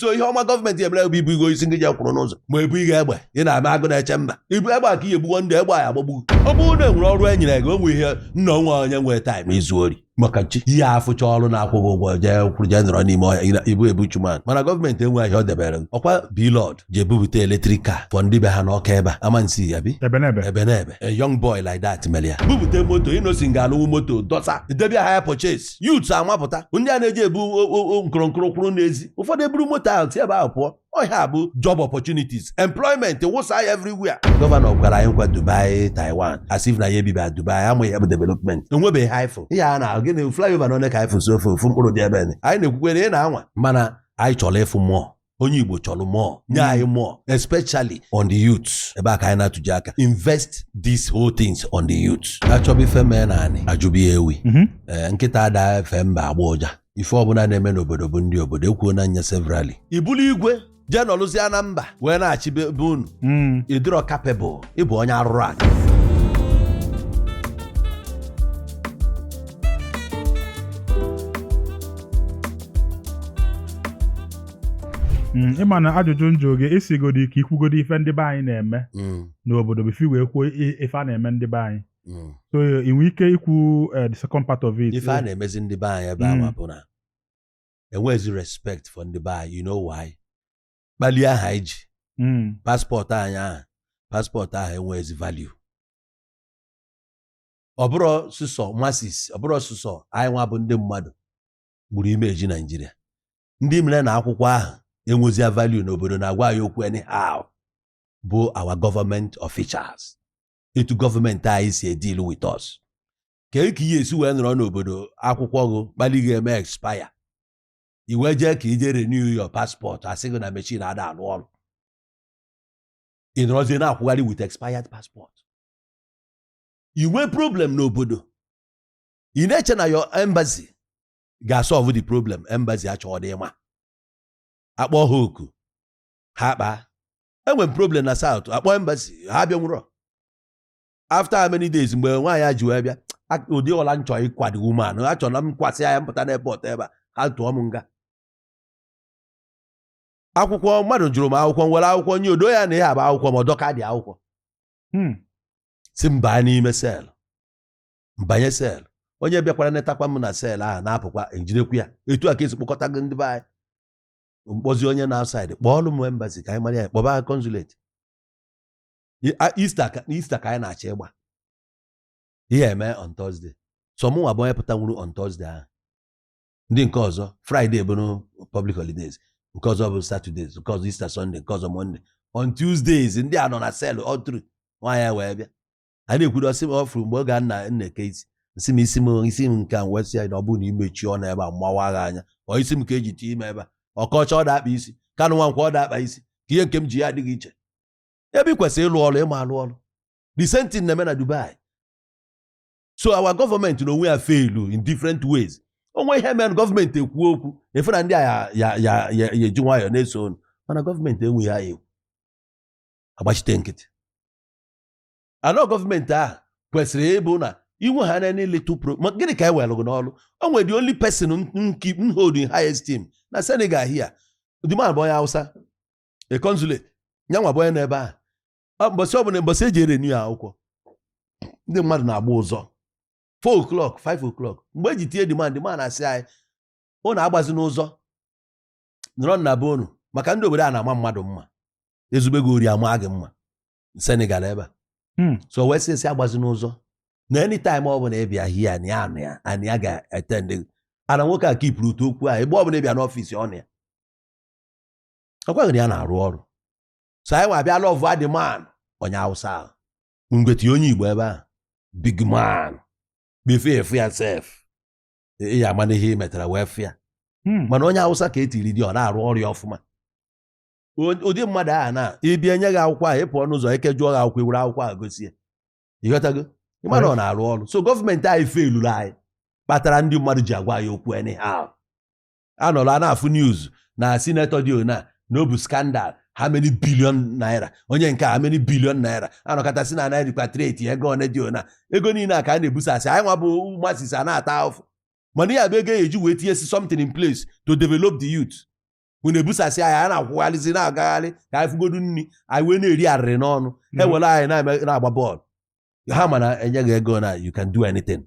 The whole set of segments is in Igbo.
so ihe ọma gọọmenti emere bụ ibu igo isi ndị je kwụrụ n'ụzọ ma ebu ihe egbe ị na-ama Agụnechemba ibu egbe ka ihe egbuwo ndị egbe ya agbagbu ọ bụrụ na enwere ọrụ e nyere gị o nwe ihe nna o nwe onye nwere time izu ori maka nchi ihe afụcha ọrụ na-akwụghị ụgwọ jee kwụrụ jee nọrọ n'ime ọhịa ị bụ a bushman mana gọọmenti enweghị ihe ọ debere ọ kwa B-Lord ji ebubute electric car for ndị be ha n'Ọka ebe a Amansea bi Ebenebe Ebenebe a young boy like that mere ya bubute moto Innoson ga-alụwu moto dọsa debia ha ya purchase Street. Youths amapụta ndị a na-eji ebu nkụrụnkụrụ kwụrụ n'ezi ụfọdụ eburu moto ahụ si ebe ahụ pụọ ọ ihe a bụ job opportunities employment wụsa ya everywhere. Gọvanọ kwere anyị nkwa Dubai Taiwan as if na anyị ebiba Dubai amaghị ihe bụ development enwebeghị ihe anyị fụ ihe a na-ahụ gịnị flyover na one ka anyị fụ so far ofu mkpụrụ dị ebe anyị na-ekwukwa na ị na-anwa mana anyị chọrọ ịfụ more onye Igbo chọrọ more nye anyị hmm. more especially on the youth ebe a ka anyị na-atụ gị aka invest these whole things on the youth achọba ife mee n'anị ajụba ewi mhm. eh, nkịta ada efe mba agba ụja ife ọbụla na-eme n'obodo bụ ndị obodo ekwuo na nya severally ị bụlụ igwe jee nọlụzie na mba wee na-achị be unu hmm. ị dịrọ capable ị bụ onye arụrụ ala Mm, ị ma na ajụjụ m jụ gị ị sịgodị ka i kwugodi ife ndị be anyị na-eme Mm, n'obodo before i wee kwuo i- ife a na-eme ndị be anyị mm. so ị nwee ike ikwu eh, the second part of it ife a na-emezi ndị be anyị ebe Mm. ahụ bụ na enwezi respect for ndị be anyị you know why kpali ahụ anyị ji mm. passport anyị ahụ passport ahụ enweghịzi value ọ bụrọ sụsọ masses ọ bụrọ sụsọ anyị nwa bụ ndị mmadụ gburu image Naijiria ndị mere na akwụkwọ ahụ enwezi value n'obodo na-agwa anyị okwu anyhow bụ our government officials etu gọọmenti anyị si edeal with us ka e ka ihe esi wee nọrọ n'obodo akwụkwọ gụ kpali gị eme expire i wee jee ka i je renew your passport asị gị na machine ada alụ ọrụ ị nọrọzie na-akwụgharị with expired passport i nwee problem n'obodo ị na-eche na your embassy ga-asolve the problem embassy achọọdị ịma akpọ ha oku ha kpaa enwere problem na South akpọ embassy ha abịanwurọ after how many days mgbe nwaanyị a ji wee bịa a- ụdị ọla nchọ ịkwado woman a chọrọ na m kwasị ya m pụta na airport ebe a ha tụọ m nga akwụkwọ mmadụ jụrụ m akwụkwọ m were akwụkwọ nye odo ya na ihe a abụ akwụkwọ m ọ dọkadị akwụkwọ Hmm. si m baa n'ime cell m banye cell onye bịakwara netakwa m na cell ahụ na-apụkwa ejidekwu ya etu a ka esi kpọkọtago ndị be anyị m kpọzie onye na outside kpọọlụ m embassy ka anyị mara ya kpọba consulate Easter ka Easter ka anyị na-achọ ịgba ihe eme on Thursday so mụnwa bụ onye pụtanwuru on Thursday ahụ ndị nke ọzọ Friday bụrụ public holidays nke ọzọ bụ Saturdays nke ọzọ Easter Sunday nke ọzọ Monday on Tuesdays ndị a nọ na cell all through nwaanyị ya wee bịa a na-ekwuru ọ sị m ọ fụrụ mgbe oge a m na m na-eke isi nsị m isi m isi m nke a wee sị ya na ọ bụrụ na imechi ọnụ ebe a m mawa gị anya ọ isi m ka eji tinye ime ebe a Okocha ọ da-akpa isi Kanu Nwankwo ọ da-akpa isi kee ihe nke m ji adị iche ebe ị kwesịrị ịlụ ọrụ ị ma alụ ọrụ the same thing na-eme na Dubai so our government na onwe ya failu in different ways o nwee ihe mere gọọmenti ekwu okwu ị fụ na ndị a ya eji nwayọọ na-eso unu mana gọọmenti enweghị anya ekwu agbachite nkịtị anọ gọọmenti ahụ kwesịrị ịbụ na iwe ha niile tụpụ maka gịnị ka e were gị n'ọrụ o nwere the only person m hold in high esteem na Senegal here the man bụ onye Hausa a consulate nyanwa bụ onye nọ ebe ahụ mbọsị ọbụla mbọsị eji erenew akwụkwọ ndị mmadụ na-agba ụzọ 4 o'clock 5 o'clock mgbe eji tinye the man man a asị anyị ụnụ agbazina ụzọ nọrọnụ na be unu maka ndị obodo a na-ama mmadụ mma ezube gị ori ama gị mma Senegal ebe a hmm. so wee sị esi agbazina ụzọ na anytime ọ bụla ị bịa here anị anụ ya anị ya ga-attendị ana nwoke a keepụrụ to okwu ahụ mgbe ọ bụla ị bịa n'ọfịs ọ nọ ya ọ gwa gị na ya na-arụ ọrụ so anyị wee bịa lovụa the man onye awụsa ahụ mgbe e tinye onye Igbo ebe ahụ big man before ị fụ ya sef ị ya amana ihe ị metara wee fụ ya Hmm. mana onye awụsa ka e tiri there ọ na-arụ ọrụ ya ọfụma O- ụdị mmadụ ahụ na ị bịa e nye gị akwụkwọ ahụ ị pụọ n'ụzọ eke jụọ gị akwụkwọ i were akwụkwọ ahụ gosi ya ị ghọtago ị ma na ọ na-arụ ọrụ so gọọmenti anyị failuru anyị kpatara ndị mmadụ ji agwa ya okwu anyhow anọrọ a na-afụ news na sinetọ dị ona na ọ bụ scandal how many billion naira onye nke how many billion naira a nọkata sị na a na-erepatriate ego one dị ona ego niile a ka a na-ebusasị anyị nwa bụ masses a na-ata ahụfụ mana ya bụ ego a ya-eji wee tinyesịa something in place to develop the youth unu ebusasị anyị a na-akwụgharịzi na-agagharị ka anyị fụgodu nri anyị wee na-eri arịrị n'ọnụ mhm. ewere anyị na-agba bọọlụ ha mana e nye gị ego na you can do anything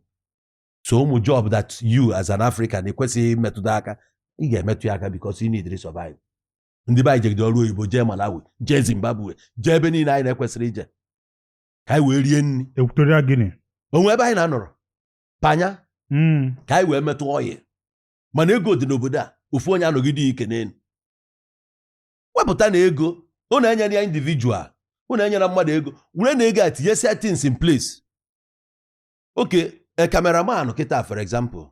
so ụmụ job that you as an African ekwesịghị imetụta aka ị ga-emetụ ya aka because you need to survive ndị be anyị jegide ọrụ oyibo jee Malawi jee Zimbabwe jee ebe niile anyị na-ekwesịrọ ije ka anyị wee rie nri Equatorial Guinea o nwe ebe anyị na-anọrọ Panya mm. ka anyị wee metụ ọyị mana ego dị n'obodo a ofu onye anọgide ya ike n'elu wepụtanụ ego unu enyele ya individual unu enyele mmadụ ego werenụ ego a tinyesia things in place okay a cameraman kịta for example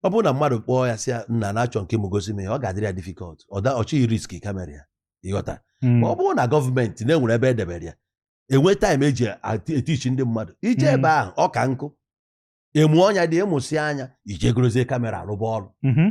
ọ bụrụ na mmadụ kpọọ ya sị nna na-achọ nke m gosi m ya ọ ga-adịrị ya difficult ọ da ọ chọghị risk kamera ya ịghọta ma ọ bụrụ na gọọmenti na-enwere ebe edebere ya enwe time eji ati- etichi ndị mmadụ ije Mm. ebe ahụ ọ ka nkụ emu ọnya dị ị mụsịa nya i je gorozie kamera rụba ọrụ Mhm.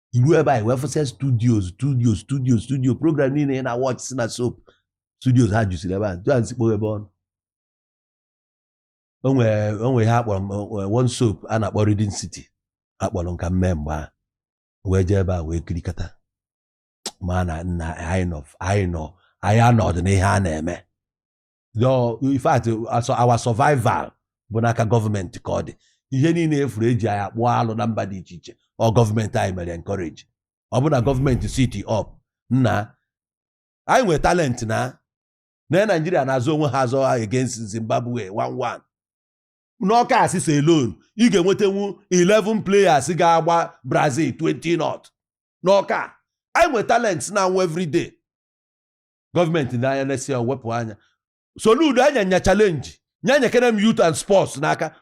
iru ebe anyị wee fụsịa studio studio studio studio program niile ị na-awatch si na soap studio ha jusiri ebe a ju anyị si kpoghebe ọnụ o nwere ihe a kpọrọ eh, one soap a na-akpọ Rhythm City a kpọrọ m ka m mee mgbe a wee jee ebe a wee kirikata mana nna anyị nọ anyị nọ anyị anọdị n'ihe a na-eme Your- in fact also our survival bụ n'aka gọọmenti ka ọ dị ihe niile ị fụrụ eji anyị akpụ alụ na mba dị iche iche ọ gọọmenti anyị mere encourage ọ bụ na gọọmenti sit up nna anyị nwere talent na na Naijiria na-azọ onwe ha azọ against Zimbabwe 1-1 n'Ọka axis alone ị ga-enwetanwu 11 players ga-agba Brazil 20 nought n'Ọka anyị nwere talent na-anwụ everyday gọọmenti na anya na-esi ya wepụ anya Soludo anya nya challenge nya nyekene m youth and sports n'aka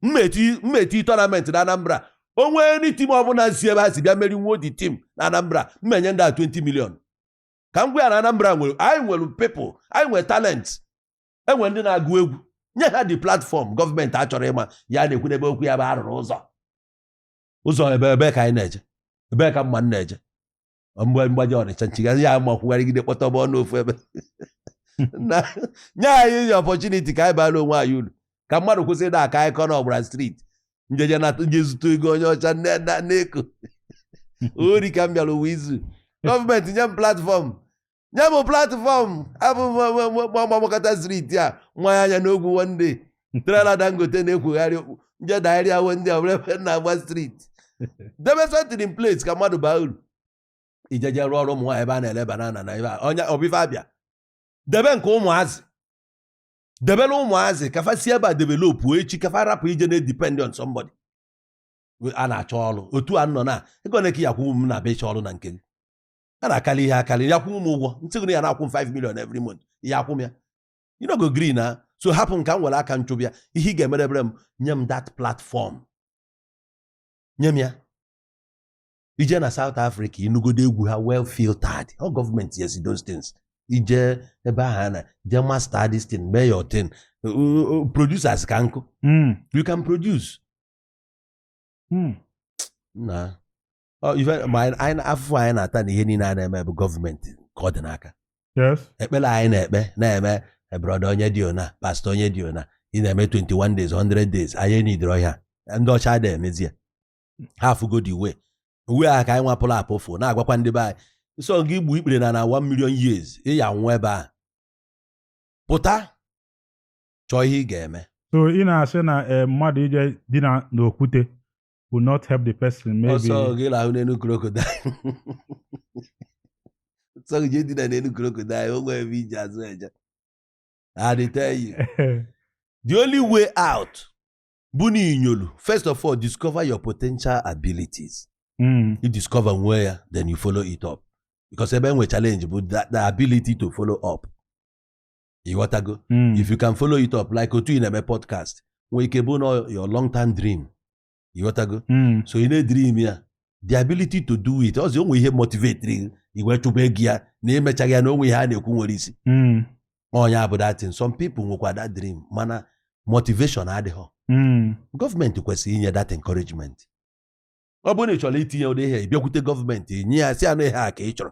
m meti m meti tournament na Anambra o nwe ndị team ọbụla si ebe ha si bịa merinwo the team na Anambra m enye ndị a 20 million ka m gwa ya na Anambra nwere anyị nwere people anyị nwere talent enwere ndị na-agụ egwu nye ha the platform gọọmenti achọrọ ịma ihe a na-ekwu n'ebe okwu ya bụ a rụrụ ụzọ ụzọ ebe ebe ka anyị na-eje ebe ka mụa na-eje mgbe m gbaje Ọnịcha m chigharịa m akwụgharịgide kpọtọba ọnụ ofu ebe na nye anyị nye opportunity ka anyị baara onwe anyị uru ka mmadụ kwụsị ịda aka akụkọ na ọ gbara street m jeje na m je zuta ego onye ọcha nne na n'eko ori ka m bịara ụwa izu gọọmenti nye m platform nye m platform abụ m gba- m gbakata street a nwa ya anya n'ogwu one day trailer Dangote na-ekwugharị okwu m je dairi awo ndị ọbụla ebe na-agba street debe something in place ka mmadụ baa uru ijeje rụọ ọrụ ụmụ nwaanyị ebe a na-ele banana na ebe onye ọbịfa abịa debe nke ụmụazị debere ụmụazị ka fa si ebe a develop echi ka fa rapụ ije na-edepend on somebody a na-achọ ọrụ otu a nọ na ego one ka ị ya-akwụnwu m na-abịa ịchọ ọrụ na nke gị a na-akarị ihe akarị ị ya-akwụ m ụgwọ m sị gị ị ya na-akwụ m 5 million every month ị ya-akwụ m ya you no go gree na so hapụ m ka m were aka m chụba ya ihe ị ga-emerebere m nye m that platform nye m ya i je na South Africa ị nụgodu egwu ha well filtered ọ gọọmenti yes those things i je ebe ahụ na je master this thing mee your thing producers ka nkụ hmm. you can produce hmm. na Ọ, ife- ma anyị- anyị- afụfụ anyị na-ata na ihe niile a na-eme bụ gọọmenti ka ọ dị n'aka yes ekpere anyị na-ekpe na-eme brọda onye dị ọna pastọ onye dị ọna ị na-eme 21 days 100 days anyị enidirọ ya ndị ọcha adịghị emezi ya ha afụgo the way way a ka anyị nwa pụrụ apụ fụ na-agwakwa ndị be anyị ọ sọ gị igbu ikpere n'ana 1 million years ị ya-anwụ ebe a pụta chọọ ihe ị ga-eme so ị na-asị na eh, mmadụ ije dina n'okwute will not help the person maybe ọ sọ gị lahụ n'elu crocodile ọ sọ gị jee dina n'elu crocodile o nwerọ ebe e ji azụ eje I dey tell you the only way out bụ na inyolu first of all discover your potential abilities mm. you discover nwee ya then you follow it up because ebe e nwe challenge bụ the, the ability to follow up ịghọtago Mm. if you can follow it up like otu ị na-eme podcast nwee ike bụ na your long term dream ịghọtago Mm. so ị na-edream ya the ability to do it ọzọ o nwe ihe motivatiri gị i wee chụba ego ya na emechaghị ya na o nwe ihe a na-ekwu nwere isi Mm. ọ ya bụ that thing some people nwekwa that dream mana motivation adịghọ Mm. gọọmenti kwesịrị inye that encouragement ọ bụrụ na ị chọrọ itinye ụdị ihe ị bịakwute gọọmenti nye ya sị ya na ọ ihe a ka ị chọrọ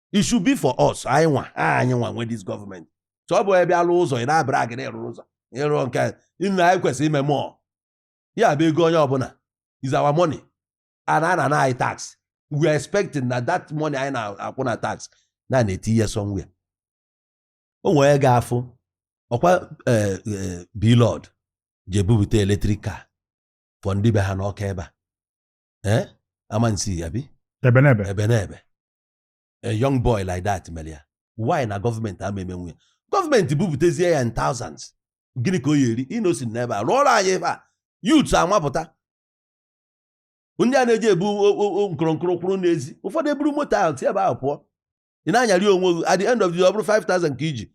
it should be for us anyị nwa anyị nwa nwe this government so ọ bụghọ ị bịa lụọ ụzọ ị na-abrag na ị rụrụ ụzọ ịrụ nke nna anyị kwesịrị ime mụọ ya bụ ego onye ọbụla is our money and a na-ana anyị tax we are expecting na that money anyị na-akwụ na tax na a na-etinye somewhere o nwere ga-afụ ọkwa eh, eh, Blord ji ebubute electric car for ndị be ha n'Ọka ebe a eh? Amansea abi Ebenebe Ebenebe a young boy like that mere ya why na gọọmenti ama emenwu ya gọọmenti bubutezie ya in thousands gịnị ka ọ ya-eri Innoson n'ebe a rụọrọ anyị ebe a youth amapụta ndị a na-eji ebu nkụrụnkụrụ kwụrụ n'ezi ụfọdụ eburu moto ahụ sie ebe ahụ pụọ ị na-anyarị onwe gị at the end of the day ọ bụrụ 5000 ka i ji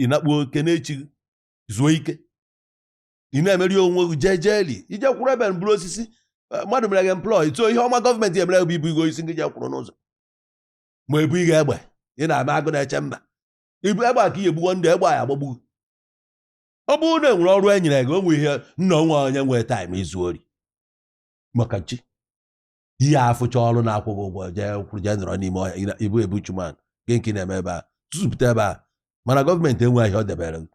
ị nakpuo kenee chi gị zuo ike ị na-emeri onwe gị jejely ije kwụrụ ebe buru osisi eh, mmadụ mere gị employ sọ ihe ọma gọọmenti emere bụ ibu igo isi gị jee kwụrụ n'ụzọ ma ebunye egbe ị na-ama Agụnechemba ibu egbe ka ihe egbugo ndị egbe a ya agbagbu ọ bụrụ na enwere ọrụ e nyere gị o nwe ihe nna o nwe onye nwe time izu ori maka chi ị ya-afụcha ọrụ na-akwụ gị ụgwọ jee kwụrụ jee nọrọ n'ime ọhịa ibu ebu chuman gị nke na-eme ebe a tụzụpụta ebe a mana gọọmenti enweghị ihe ọ debere gị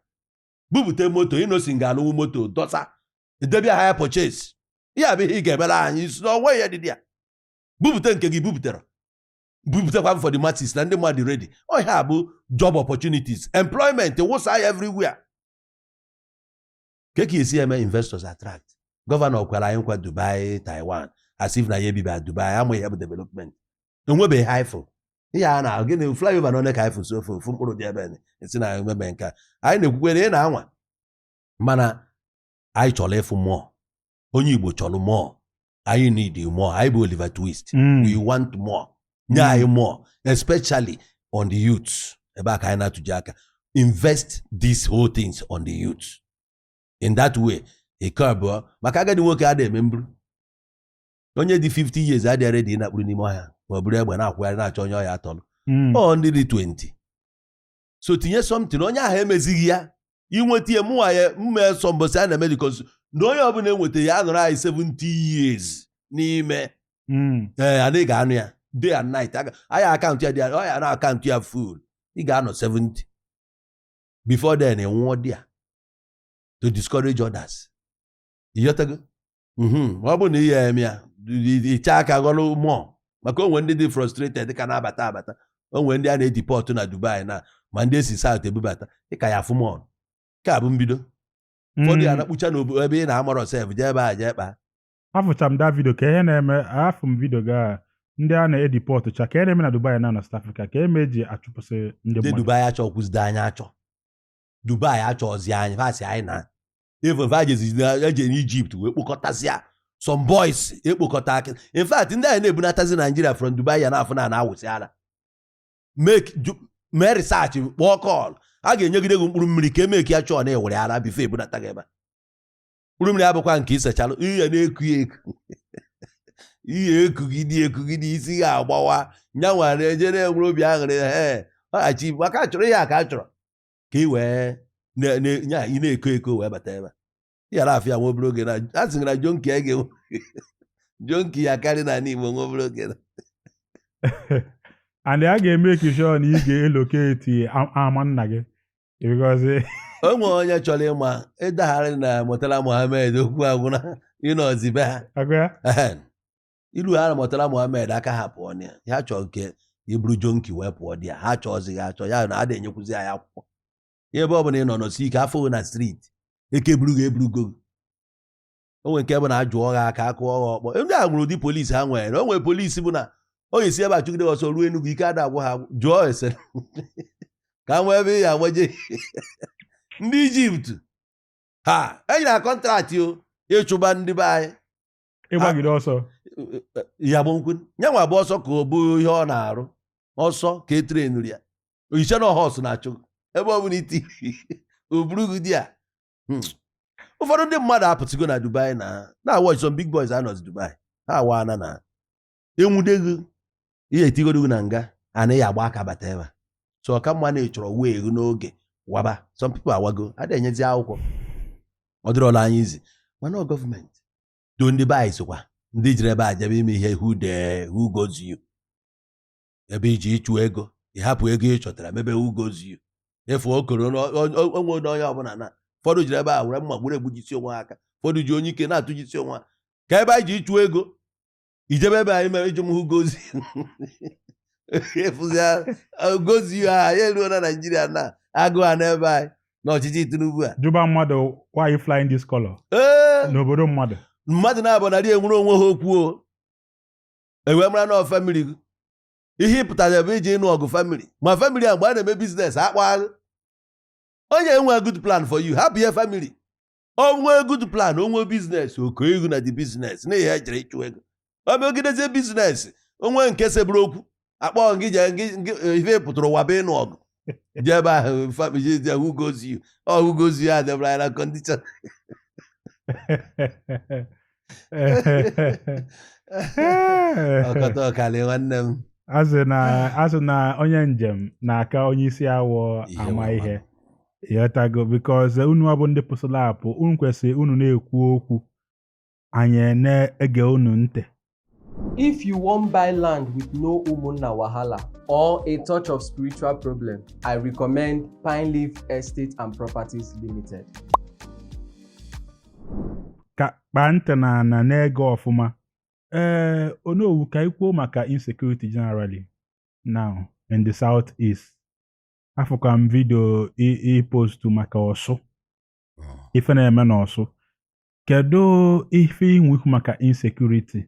bupụta moto Innoson ga alụwu moto dọsa edebe ha ya purchase ihe a bụ ihe ị ga-emere anyị isi na ọnwa ya dị ya bupụta nke gị bupụtara bupụtakwa m for the masses na ndị mmadụ ready ọ ihe a bụ job opportunities employment wụsa ya everywhere ka ka esi eme investors attract gọvanọ kwere anyị nkwa Dubai Taiwan as if na ya ebiba Dubai ama ihe bụ development enwebeghị ha ifụ ihe a na-ahụ gịnị flyover na onye ka ifụ sọ ofu mkpụrụ dị ebe esi na emebe nke anyị na-ekwukwe na ị na-anwa mana anyị chọrọ ịfụ more onye Igbo chọrọ more anyị need more anyị bụ Oliver Twist hmm. we want more nye hmm. anyị more especially on the youth ebe a ka anyị na-atụji aka invest these whole things on the youth in that way nke abụọ maka agadi nwoke a na-eme mbụrụ onye dị 50 years adịghị ready ịnakpụrụ n'ime ọhịa ma ọ buru egbe na-akwụgharị na-achọ onye ọ ya-atọrọ Mm. ọ ndị dị 20 so tinye something onye ahụ emezighị ya inweta ya mụnwa ya mma sọ mbọsị a na-eme because na onye ọbụla enweta ya anọrọ anyị 70 years n'ime Mm. ee anyị ga-anụ ya day and night aga- anyị a count ya dị ọ ya na a count ya full ị ga-anọ 70 before then ị nwụọ there to discourage others ịghọtago mhm. ma ọ bụrụ na ihe eme ya iche aka ghọrọ more maka o nwere ndị dị frustrated ka na-abata abata o nwere ndị a na-edeport na Dubai na ma ndị e si South ebubata ị ka ya-afụ more nke a bụ mbido ụfọdụ ya hmm. na-akpụcha n'obodo ebe ị na-amarọ sef jee ebe a jee kpaa afụcha m the video ka ihe na-eme afụ m video gaa ndị a na-edeport cha ka e na-eme na Dubai na na South Africa ka eme eji achụpụsị ndị mmadụ Dubai achọ kwụzide anyị achọ Dubai achọzi anyị va sị anyị na even va eje n'Egypt wee kpokọtazia some boys ekpokọta aka in fact ndị anyị na-ebunatazi Nigeria from Dubai ya na-afụ na na-awụsị ala mee research kpọọ call a ga-enyegide gị mkpụrụ mmiri ka e make sure na ị wiri ala before ebunata gị ebe mkpụrụ mmiri abụkwa nke isechalụ ihe na-eku ya eku ihe ekugide ekugide isi ya agbawa nya nwere ejere enwere obi aṅụrị ee ọghachi maka chọrọ ihe a ka a chọrọ ka ị wee nya ị na-eko eko wee bata ebe yara afịa nwa obere oge na a sị na junkie a ga-enwe junkie ya karị na ala Igbo nwa obere oge na and a ga-emake sure na ị ga-elocate ama nna gị because o nwere onye chọrọ ịma ịdagharị na Murtala Muhammed okwu agwụna ịnọzi be ha agụ ya Ehen. ilu ha na Murtala Muhammed aka ha pụọ na ya ya chọọ nke ị bụrụ junkie wee pụọ there ha achọzighị achọ ya na a na-enyekwuzi ya akwụkwọ ya ebe ọ bụla ị nọ nọsie ike afụ gị na street eke buru gị eburugo gị. o nwere nke bụ na ajụọ ha aka akụọ ha ọkpọ ndị a nwere ụdị polisi ha nwere na o nwere polisi bụ na ọ ya-esi ebe a chụgide ọsọ ruo Enugu ike ada agwụ ha jụọ ese ka nwee ebe ya agbaje ndị Egypt ha enyere na contract o ịchụba ndị be anyị ịgbagide ọsọ ya bụ nke yanwa bụ ọsọ ka ọ bụ ihe ọ na-arụ ọsọ ka etrenri ya ị ya-eche na ọ horse na-achụ ebe ọ bụla i ti o buru gị di ya Hmm. ụfọdụ ndị mmadụ apụtụgo na Dubai na na-awatch some big boys anọzi Dubai ha awaana na e nwude gị ihe e tigodo gị na nga anaghị agba aka bata ebe so ọ ka mma na ị chọrọ way gị n'oge waba some people awago a na-enyezi akwụkwọ ọ dịrọla anyị easy mana government though ndị be anyị sokwa ndị jiri ebe a jebe ime ihe who dey who goes you ebe i je ịchụ ego ị hapụ ego ị chọtara mebe who goes you efu okoro onwe onye onye ọbụla na ụfọdụ jiri ebe a were mma gburu egbujisi onwe ha aka ụfọdụ ji anyụike na-atụjisi onwe ha aka ebe anyị ji ịchụ ego i jebe ebe anyị mere iji m who goes you efuzi gozi ha ya eruo na naijiria na agụ ha n'ebe anyị n'ọchịchị Tinubu a jụba mmadụ why you flying this color n'obodo mmadụ mmadụ na-abụ narị enwere onwe ha okwu o e wee mara na family gị ihe ị pụtara ebe iji ịnụ ọgụ family ma family a mgbe a na-eme business akpọghị gị onye enwe good plan for you hapụ ihe family o nwee good plan o nwee business oke ego na the business na ihe e jere ịchụ ego o megidezie business o nwee nke seburu okwu a kpọọ gị je ihe ị pụtara ụwa bụ ịnụ ọgụ jee ebe ahụ family dị who goes you ọ who goes you e debere ya na condition ọkọta ọkali nwanne m asị na asị na onye njem na-aka onye isi awọ Ihe ama nwa ihe ị ghọtago because unu nwa bụ ndị pụsịla apụ unu kwesịrị unu na-ekwu okwu anyị na-ege unu ntị If you wan buy land with no umunna wahala or a touch of spiritual problem, I recommend Pine Leaf Estate and Properties Limited. ka kpaa ntị n'ana na-ege ọfụma ee Onowu ka anyị kwuo maka insecurity generally now in the south east afụkwa m video ị postu maka Ọsụ ife na-eme n'Ọsụ kedu ife i nwe ikwu maka insecurity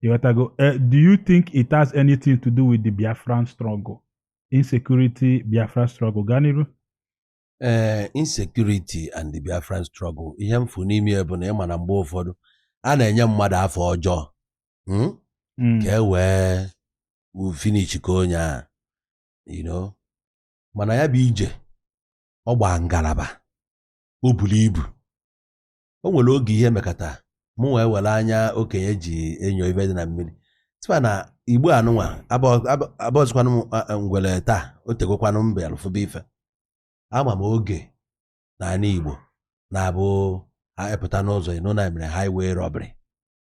ị ghọtago Eh, do you think it has anything to do with the biafran struggle insecurity biafra struggle gaa n'iru ee insecurity and the biafran struggle ihe m fụ n'ime ya bụ na ị ma na mgbe ụfọdụ a na-enye mmadụ afa ọjọọ mm? Mm, ka e wee finish ka onye a you know mana ya bụ ije ọ gbaa ngalaba o buru ibu o nwere oge ihe mekata mụ wee were anya okenye ji enyo ife dị na mmiri sịba na Igbo anụnwa abọzikwanụ ngwele taa o tegokwanụ mbe a lụfụba ife ama m oge n'ana Igbo na-abụ e pụta n'ụzọ ị nụ na e mere highway robbery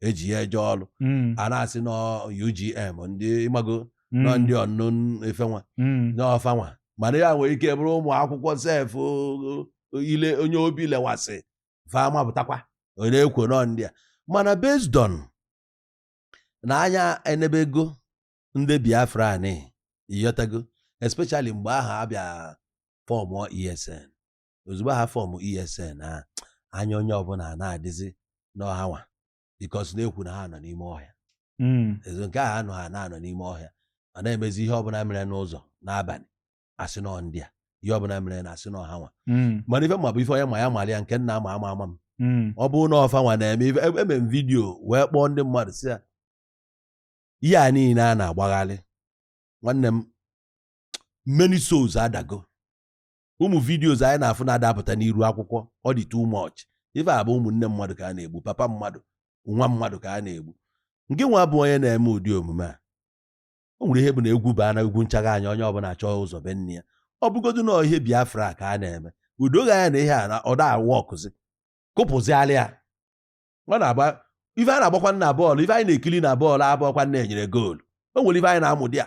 e ji ya eje ọlụ Mm. a na-asị n'ọ UGM ndị ị mago Mm. n'ọ ndị ọnụ efe nwa Mm. n'ọ fa nwa mana ya nwere ike bụrụ ụmụ akwụkwọ sef o- o- i le onye obi lewasị fa mapụtakwa ọ na-ekwu n'ọ ndị a mana based on na anya enebego ndị Biafra anyị ị ghọtago especially mgbe ahụ a bịa fọmụọ ESN ozugbo ha fọmụ ESN a anya onye ọbụla na-adịzi n'ọ ha nwa because na-ekwu na ha nọ n'ime ọhịa hmm. ezo nke ahụ anọ ha na-anọ n'ime ọhịa ọ na-emezi ihe ọbụla mere n'ụzọ n'abalị a sị n'ọ ndị a ihe ọbụla merenụ a sị n'ọ ha nwa hmm. mana ife m ma bụ ife onye ma ya mara ya nke m na-ama ama ama m hmm. ọ bụrụ na ọ fa nwa na-eme ife emee m video wee kpọọ ndị mmadụ sị ya ihe a niile a na-agbagharị nwanne m many souls adago ụmụ videos anyị na-afụ na-adapụta n'iru akwụkwọ ọ dị too much ife a bụ ụmụnne mmadụ ka a na-egbu papa mmadụ nwa mmadụ ka a na-egbu ngị nwa bụ onye na-eme ụdị omume a o nwere ihe bụ na egwu baa na egwu nchaga anya onye ọbụla chọọ ụzọ be nne ya ọ bụgodu na ihe Biafra ka a na-eme o dogo anya na ihe a na ọ da-awọkụzi kụpụziala ya ọ na-agba ife a na-agbakwa na bọọlụ ife anyị na-ekiri na bọọlụ abụọkwa na e nyere goolu o nwere ife anyị na-amụ dị a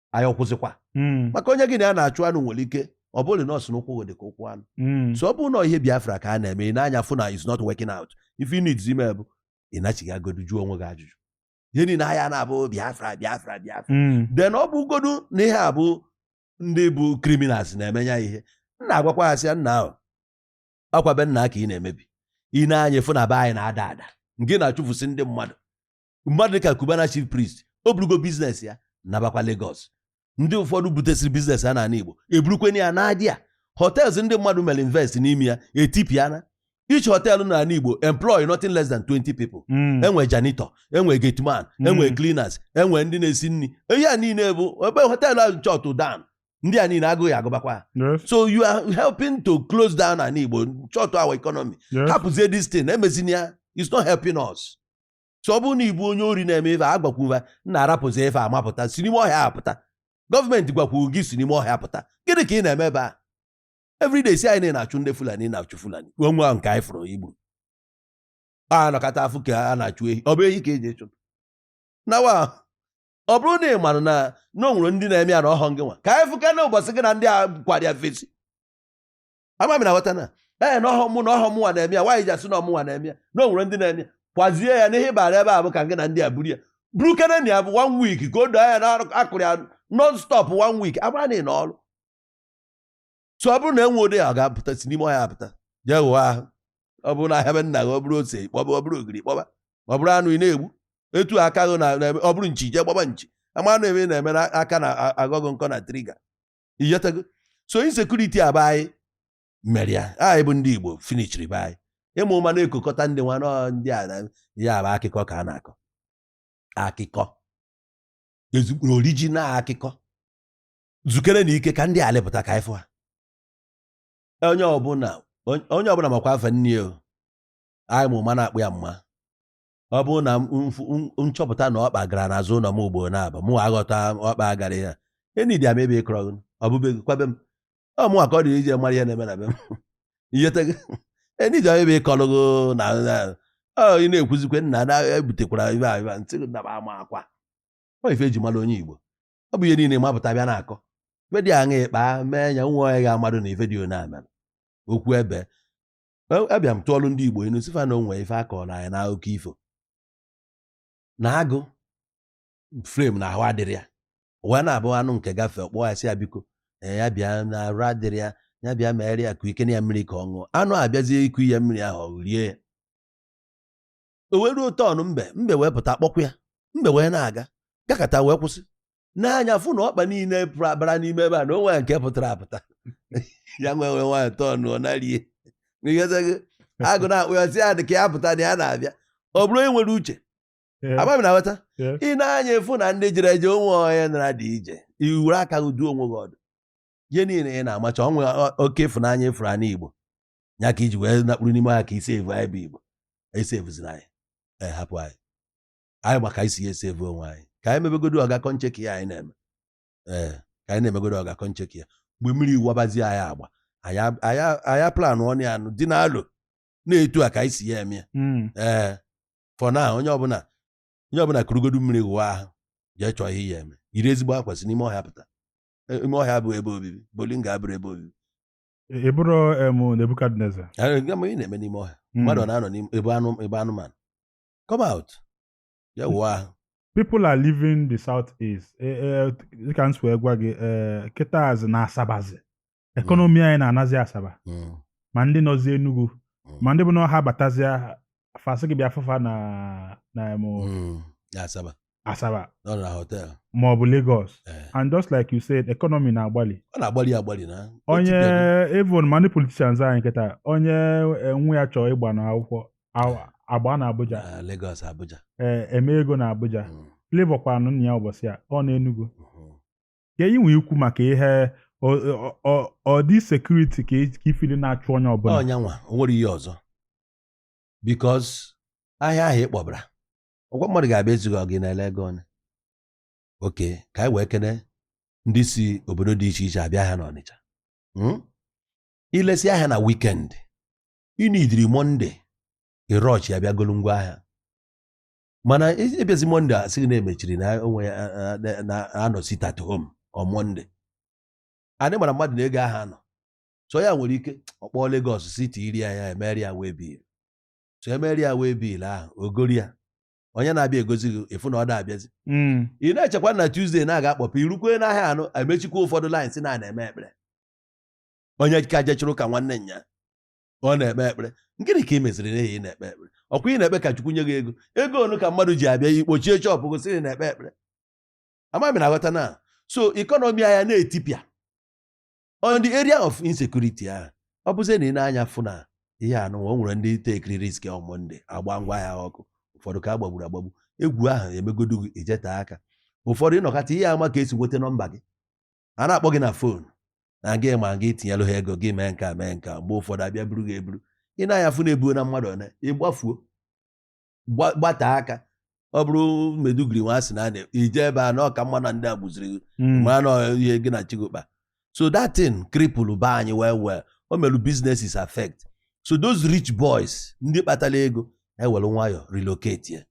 anyị akwụsịkwa hmm. maka onye gị na ya na-achụ anụ nwere ike ọ bụrụ na ọ sị na ụkwụ dị ka ụkwụ anụ hmm. so ọ bụrụ na ihe Biafra ka a na-eme i ne anya fụ na is not working out ife i needizi ime bụ ị nachighaagodu jụọ onwe gị ajụjụ ihe niile aya na-abụ Biafra Biafra Biafra hmm. then ọ bụgodu na ihe a bụ ndị bụ criminals na-eme ya ihe m na-agwakwa ha sịa nnaa ọkwa be nna ka ị na-emebi i ne anya fụ na be anyị na-ada ada nke na-achụfụsị ndị mmadụ mmadụ dịka Cubana chief priest o burugo business ya nabakwa Lagos ndị ụfọdụ butesịrị business ha n'ala Igbo eburukwenye ya nadịa hotels ndị mmadụ mere invest n'ime ya etipịana each hotel na ala Igbo employ nothing less than 20 people Mm. e nwee janitor e nwee gateman Mm. e nwee cleaners e nwee ndị na-esi nri ihe a niile bụ ebe hotel ahụ shut down ndị a niile agụụ agụbakwa ha. Yes, so you are helping to close down ana Igbo shut our economy yes. hapụzie this thing emezina ya it's not helping us so ọ bụrụ na ịbụ onye ori na-eme ife a gwakwuva nna rapụzi ife a mapụta si n'ime ọhịa pụta gọọmenti gwakwuru gị si n'ime ọhịa pụta gịnị ka ị na-eme ebe a everyday si anyị na-achụ ndị Fulani na-achụ Fulani wee nwa nke anyị fụrụ igbu a nọkata afụ ka a na-achụ ehi ọ bụ ehi ka eji echụ nawa ọ bụrụ na ị mara na na o nwere ndị na-eme ya na ọhọ gị nwa ka anyị fụka na ụbọchị gị na ndị a kwara ya fesi ama m ị na-aghọta na ee na ọhụ mụ na ọhụ mụ nwa na-eme ya nwaanyị ji asị na ọhụ mụnwa na-eme ya na o nwere ndị na-eme ya kwazie ya n'ihe ịbara ebe a bụ ka gị na ndị a buru ya buru keneni ya bụ one week ka o doo anya na a kụrụ ya non stop one week agbara na ị na ọrụ so ọ bụrụ na enwe ụdị ya ọ ga-apụta si n'ime ọhịa pụta jee ghụọ ahụ ọ bụrụ na ahịa be nna gị ọ bụrụ ose kpọba ọ bụrụ ogiri kpọba ọ bụrụ anụ ị na-egbu etu aka gị na na- ọ bụrụ nchi jee gbaba nchi ama na ebe ị na-eme na aka na-aga gị nkọ na trigger iyetago so insecurity a bụ anyị mere ya anyị bụ ndị Igbo finishiri be anyị ịma ụma na-ekokọta ndị nwa nọ ndị a ya bụ akụkọ ka a na-akọ akụkọ ezigbo original akụkọ zukere na ike ka ndị a lịpụta ka ị fụ ha onye ọbụla onye ọbụla makwa afa nne o anyị ma ụma na-akpọ ya mma ọ bụrụ na m chọpụta na ọkpa gara n'azụ ụlọ m ugboro naabọ mụ aghọta ọkpa a gara ya enidi ama ebe ị kọrọ ji o bube ji kwabe m ọ mụnwa ka ọ dịrị ije mara ihe na-eme na be m iyetego enidi ama ebe ị kọrọ ji na ị na-ekwuzikwe nna na ebutekwara ibe ahụ ntị na ama akwa ọ ife eji mara onye Igbo ọ bụ ihe niile mapụta bịa na-akọ ife dị aṅa ịkpa mee ya nwa onye ga-amadụ na ife dị onye amara okwu ebe abịa m tụọlụ ndị Igbo inu sị fa na o nwe ife a kọrọ anyị na akụkọ ifo na agụ frame na ahụ adịrị ya wee na-abụ anụ nke gafee ọ kpọọ ya sị ya biko ya bịa na arụ adịrị ya ya bịa megharị ya ka i kunye ya mmiri ka ọ ṅụọ anụ abịazie iku ya mmiri ahụ o rie ya o wee ruo turn mbe mbe wee pụta kpọkwa ya mbe wee na-aga gakata wee kwụsị nee anya fụ na ọkpa niile bara n'ime ebe a na o nweghị nke pụtara apụta ya wee were nwayọ turn ọ narie agụ na-akpọ ya sị ya dị ka ya pụta na ya na-abịa ọ bụrụ onye nwere uche ama m ị na-aghọta ị nee anya fụ na ndị jere eje o nwe onye nara dị ije i were aka gị dụọ onwe gị ọdụ ihe niile ị na-emecha o nwe oke ịfụnanya ị fụrụ anyị Igbo ya ka i ji wee nakpuru n'ime ọhịa ka i sevu anyị bụ Igbo esevuziri anyị ee hapụ anyị anyị ma ka e si ya esevu onwe anyị ka anyị mebegodo ọga kọncheki ya anyị na-eme ee ka anyị na-emegodo ọga kọncheki ya mgbe mmiri wubazi anyị agba aya plan ọnụ ya anụ dị n'alụ na-etu a ka anyị si ya eme hmm. ee for now onye ọbụla onye ọbụla kurugodo mmiri wụwa ahụ jee chọọ ihe ị ya-eme yiri ezigbo akwa si n'ime ọhịa pụta E- ime ọhịa abụghị ebe obibi ọ bụlụ na ọ ga-abụrụ ebe obibi ị bụrụ em Nebukadneza Anyị ga- ma ị na-eme n'ime ọhịa mmadụ ọ na-anọ n'ime ebe anụ ebe anụmanụ come out ya wụọ ahụ people are leaving the south east Eh, eh, dịka m si wee gwa gị eh, kịtazi na Asabazi economy anyị na-anazi Asaba Mm, ma ndị nọzi Enugu mm, ma ndị bụ na ha batazia fa sị gị bịa fụ fa na na em mm, na Asaba Asaba nọ na hotel ma ọ bụ Lagos ee and just like you said economy na-agbalị ọ na-agbalị agbalị na onye Etibeghị. even ma ndị politicians anyị kịta onye eh, nwa ya chọọ ịgba na akwụkwọ a- agbaa na Abuja na Lagos Abuja eh, eme ego na Abuja Mm, Flavour kwaranụ nna ya ụbọchị a ọ na Enugu mhm. ka enyi nwee ikwu maka ihe ọ- ọ- ọ- ọ dị security ka i- ka ifili na-achụ onye ọbụla ọnyanwa o nwere ihe ọzọ because ahịa ahụ ị kpọbara ọkwa mmadụ ga-abịa ezughị ọgụ ị na-ele ego okay ka anyị wee kene ndị si obodo dị iche iche abịa ahịa n'Ọnịcha Hmm? ilesi ahịa na weekend i needịrị Monday ị rush abịa golu ngwa ahịa mana e- abịazi Monday a sị gị na emechiri na onwe ya a- a- a- na anọ sit at home on Monday anyị mara mmadụ na ego ahụ anọ so ya nwere ike ọ kpọọ Lagos sị tiiri ya ya emere ya waybill so emere ya waybill ahụ o goro ya onye na-abịa egozi gị ị fụ na ọ da-abịazi Mm. ị na-echekwa na Tuesday na-aga akpọpụ i rukwe n'ahịa anụ emechikwa ụfọdụ lines na na-eme ekpere onye ka jechụrụ ka nwanne nya ọ na-ekpe ekpere gịnị ka ị meziri n'ihi ị na-ekpe ekpere ọkwa ị na-ekpe ka Chukwu nye gị ego ego onu ka mmadụ ji abịa ị kpọchie shop gị sị na ị na-ekpe ekpere ama m ị na-aghọta na so economy anyị na-etipịa on the area of insecurity ahụ, ọ bụzi na ị na-anya fụ na ihe anụ o nwere ndị tekiri risk on Monday agba ngwa ahịa ọkụ ụfọdụ ka agbagburu agbagbu egwu ahụ emegodu gị ijeta aka ụfọdụ ị nọkata ihe ama ka esi nweta nọmba gị a na-akpọ gị na phone na gị ma gị tinyelụ ha ego gị mee nka mee nka mgbe ụfọdụ abịa buru gị eburu ị na-anya fụ na ebuona mmadụ one ị gbafuo gbata aka ọ bụrụ Maiduguri nwa asị na a na-eje ebe a na ọ ka mma na ndị a gbuziri hmm. ma na ihe gị na chi gị kpa so that thing cripple ba anyị well well o merụ businesses affect so those rich boys ndị kpatara ego ewere nwayọ relocate ya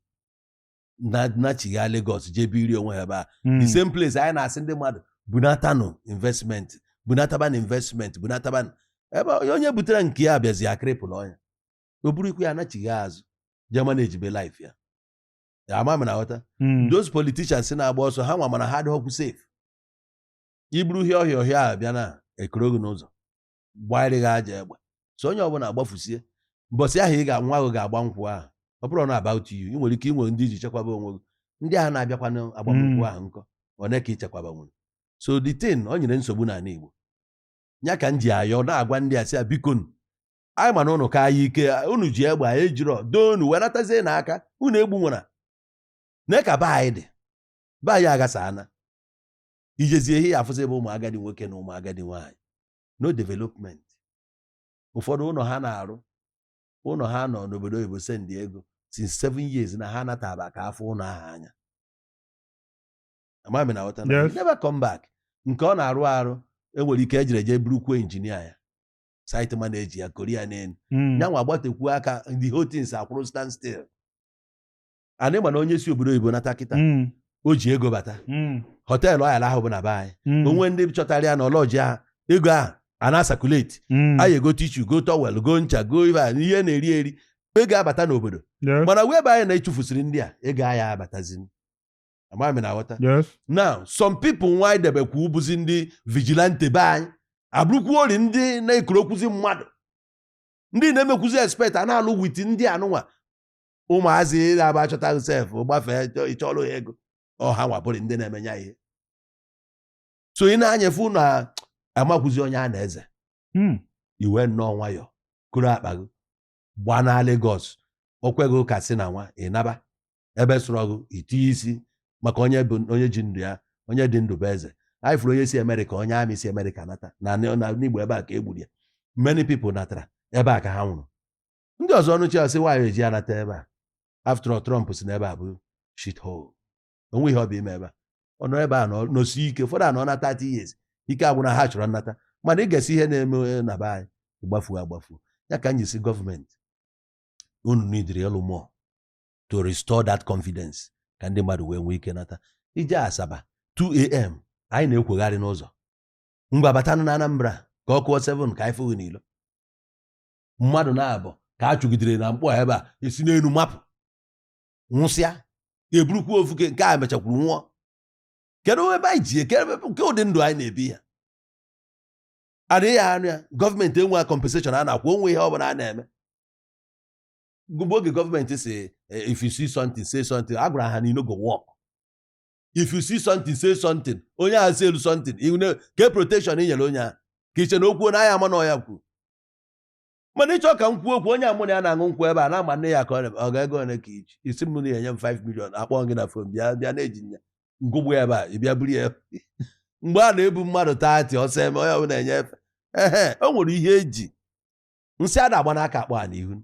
nachigha Lagos jee biri onwe ha ebe a hmm. the same place anyị na-asị ndị mmadụ bunatanụ investment bunatabanụ investment bunatabanụ ebe onye butere nke ya bịazịa cripple ya o burukwa ya anachigha azụ Germany ejibe life ya ama m ị na-aghọta hmm. those politicians na-agba ọsọ ha nwa ma na ha adịrọkwu safe iburu ihe ọhịa ọhịa ahụ bịa na ekoro gị n'ụzọ gbarie gị aja egbe so onye ọbụla agbafusie mbọsị ahụ gị nwa ahụ ga-agba nkwụ ahụ ọ bụrụ na about you ị nwere ike inwe ndị iji chekwaba onwe gị ndị ahụ na-abịakwa n'agbamnkwụ hmm. ahụ nkọ one ka ichekwaba nwere so the thing o nyere nsogbu n'ala Igbo ya ka m ji ayọ na-agwa ndị a sị ya bikonu anyị ma na unu ka anyị ike unu ji egbe anyị ejirọ doo unu wee natazie na aka unu egbu nwara na ka be anyị dị be anyị aghasa ana ijezie ihe ị ya-afụzi bụ ụmụ agadi nwoke na ụmụ agadi nwaanyị no development ụfọdụ ụlọ ha na-arụ ụlọ ha nọ n'obodo oyibo send ego since seven years na ha nataba ka afụ ụlọ ahụ anya ama m ị na-aghọta na never come back nke ọ na-arụ arụ enwere ike ejire jee burukwu injinia ya site manager ya koria n'elu Mm. nyanwa agbatekwuo aka the whole things akwụrụ stand still anyị ma na onye si obodo oyibo nata kịta Mm. o ji ego bata Mm. hotel ọ ya-alahụ bụ na be anyị Mm. onwe ndị chọtara ya na ọ lodge ahụ ego ahụ ana-a-circulate Mm. anyị ego tissue go towel go ncha go ibe a ihe na-eri eri ego abata n'obodo Yeah. mana wee be anyị na-achụfusịrị ndị a ego a ya-abatazi amaghị m na-aghọta yes now some people nwa anyị debekwu bụzi ndị vigilante be anyị abụrụkwu ori ndị na-ekurukwuzi mmadụ ndị na-emekwuzi expect a na-alụ with ndị anụnwa ụmụazị na-aba achọta sef gbafee chọ- ịchọlụ ya ego ọ ha nwa bụrị ndị na-emenye ya ihe so ị na-anyefe ụnụ a- amakwụzi onye a na-eze Hmm. ị wee nnọọ nwayọ kuru akpa gị gbanaa Lagos okweghị ụka si na nwa ịnaba ebe sụrụ ọgụ itinye isi maka onye bụ onye ji ndụ ya onye dị ndụ bụ eze anyị fụrụ onye si amerịka onye army si amerịka nata na n'igbo ebe a ka e gburu ya many people natara ebe a ka ha nwụrụ ndị ọzọ ọnụ chi asị nwaanyị eji anata ebe a after all Trump si n'ebe a bụ shit hole onwe ihe ọ bụ ime ebe a ọ nọ ebe a nọsi ike ụfọdụ anọna 30 years ike agwụna ha chọrọ nnata mana ị ga-esi ihe na-eme eh, na be anyị gbafuo agbafuo ya ka m ji sị gọọmenti unu needịrị ịlụ more to restore that confidence ka ndị mmadụ wee nwee ike nata ije Asaba 2am anyị na-ekwegharị n'ụzọ ngwa batanụ na Anambra ka ọ kụọ 7 ka anyị fụ gị n'ilo mmadụ naabọ ka a chụgidere na Nkpọ ebe a esi n'elu mapụ nwụsịa eburukwa ofu nke a mechakwuru nwụọ kedu ebe anyị ji eje kee ụdị ndụ anyị na-ebi ya adịghị anụ ya gọọmenti enwe compensation a na-akwụ onwe ihe ọ bụla a na-eme gụbụ oge gọọmenti si eh, if you see something say something a gwara ha na e no go work if you see something say something onye ahụ seelu something kee protection i nyere onye ahụ ka i che na okwu na a ya-ama na ọ ya kwuru mana ị chọ ka m kwuo okwu onye mụ na ya na-aṅụ nkwụ ebe a na-ama nne ya ka ọ ga-ego ole ka i ji i si m na enye m 5 million akpọ gị na fon bịa bịa na-eji nya ṅụgbu ya ebe a ị bịa buru ya mgbe a na-ebu mmadụ thirty ọsọ eme onye ọbụla enye efe ehe o nwere ihe eji nsị ada agba n'aka akpọ a n'ihu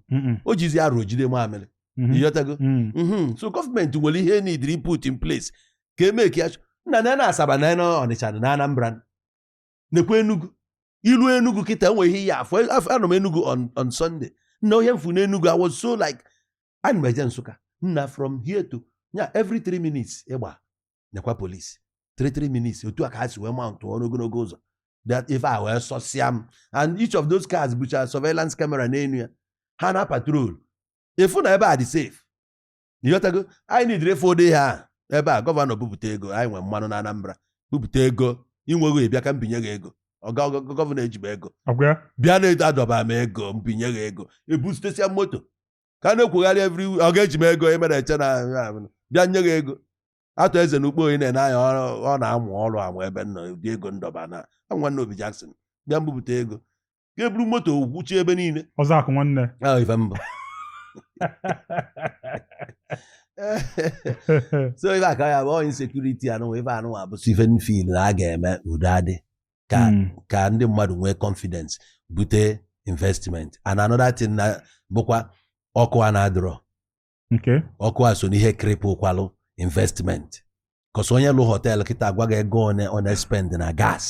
o jizi arụ o jide mamịrị mhm. ịghọtago mm. mhm. so gọọmenti nwere ihe needịrị put in place ka eme ka ya nna na na Asaba na na Ọnịcha na Anambra nekwa Enugu i lu Enugu kịta e nwe ihe ị ya-afụ anọ m Enugu on Sunday nna ihe m fụ n'Enugu I was so like ana m eje Nsụka nna from here to nya every three minutes ị gba nekwa police three three minutes otu a ka ha si wee mountụrụ ogologo ụzọ that ife a wee sọsịa m and each of those cars bụcha surveillance camera n'elu ya ha na patrol ị fụ na ebe a dị safe ịghọtago anyị needịrị ife ụdị a ebe a gọvanọ bupụta ego anyị nwere mmanụ na Anambra bupụta ego i nweghị ị bịa ka m binye gị ego oga gọvanọ ejibe ego bịa na-edo adọba m ego m binye gị ego ebusitesia moto ka a na-akwụgharị every oga eji m ego emere eche na bịa nye gị ego Arthur Eze na Ukpo onye na-ene anya ọ na-amụ ọrụ amụ ebe nọ ụdị ego ndọba na nwanne Obi Jackson bịa m bupụta ego ka e buru moto gwuchie ebe niile ọzọ akụ nwanne ife mbụ so ife aka ya bụ insecurity anụnwa ife anụnwa bụsị ife m feel na a ga-eme udo adị ka hmm. ka ndị mmadụ nwee confidence bute investment and another thing na bụkwa ọkụ a na-adịrọ ọkụ a so n'ihe cripplekwalụ investment cos onye lụ hotel kịta agwa gị ego one ọ na-espend na gas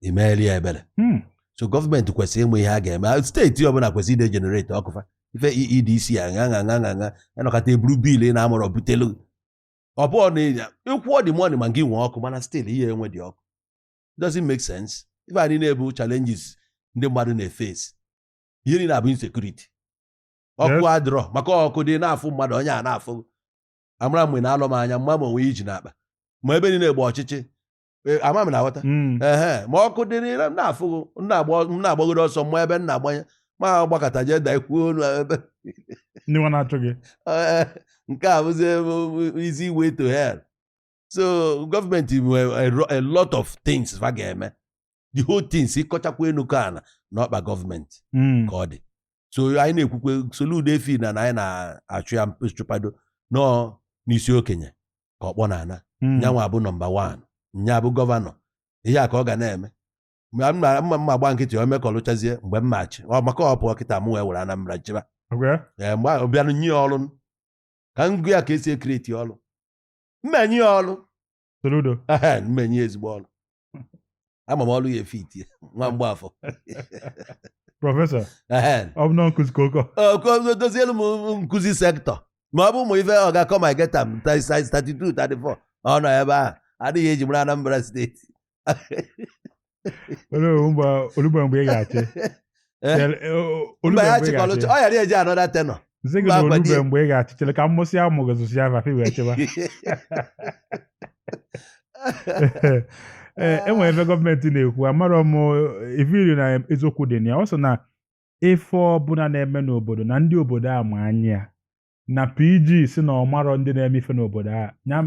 i meelụ ya ebere hmm. so gọọmenti kwesịrị ịma ihe a ga-eme steeti ọbụla kwesịrị ịdị egenerate ọkụ fa ife EEDC aṅa aṅa aṅa aṅa anọkọta e buru bill ị na-amụrọ butelu ọ bụọ na ịnya ị kwụọ the money ma gị nwee ọkụ mana still ihe enwe dị ọkụ doesn't make sense ife a niine bụ challenges ndị mmadụ na-eface ihe niile abụ insecurity ọkụ adịrọ maka ọkụ dị na-afụ mmadụ onye a na-afụ amara mgbe na-alọ m anya m ma ma o nwe ihe o ji n'akpa ma ebe niile gba ọchịchị Eh, ama m na-aghọta hmm. ee ma ọkụ dị n'ilo m na-afụ gị m na-agbagoro ọsọ m ma ebe m na-agbanye ma gbakata jee da ikwuo onu ebe ndị nwa na-achụ gị eh, nke a bụzi easy way to hell so gọọmenti nwere a lot of things fa ga-eme the whole things ị kọchakwa enu kọọ ana n'ọkpa gọọmenti hmm. ka ọ dị so anyị na-ekwukwe Soludo efi na anyị na-achụ ya chụpado nọọ n'isi okenye ka ọkpọ na-ana hmm. nyanwa abụ nọmba wan nya abụ gọvanọ ihe a ka ọ ga na-eme m ma gba nkịtị o mekọlụchazie mgbe m machi maka ọ pụọ kịta mụ wee were Anambra chịba ee mgbe ọ bịanụ nye ọrụ ka m gụ ya ka esi ekreti ọrụ m enye ọrụ m enye ezigbo ọrụ ama m ọrụ ya efiti nwa Mgbafọ prọfesọ Ehen. ọ bụ na nkụzi ka ọ ka ọ dozielu m nkụzi sektọ ma ọ bụ ụmụ ife ọ ga-akọ ma geta m 32 34 ọ nọ ebe ahụ adịghị eji mara Anambra steeti o lugo mgbe ị ga-achị Eh? Chere, eh, o- olu mba ya mgbe ị chịkọrọ ga-achị. ọ ghara eje anọda tenọ m sị gị mba na o lubeghị mgbe ị ga-achị chere ka m mụsịa mụ gụzụsịa vafe wee chịba Ee, e nwere ife gọọmenti na-ekwu amarọ m ị vụrụ na eziokwu dị na ya ọ sị na ife ọbụla na-eme n'obodo na ndị obodo a ma anya ya na PG sị na ọ marọ ndị na-eme ife n'obodo a ya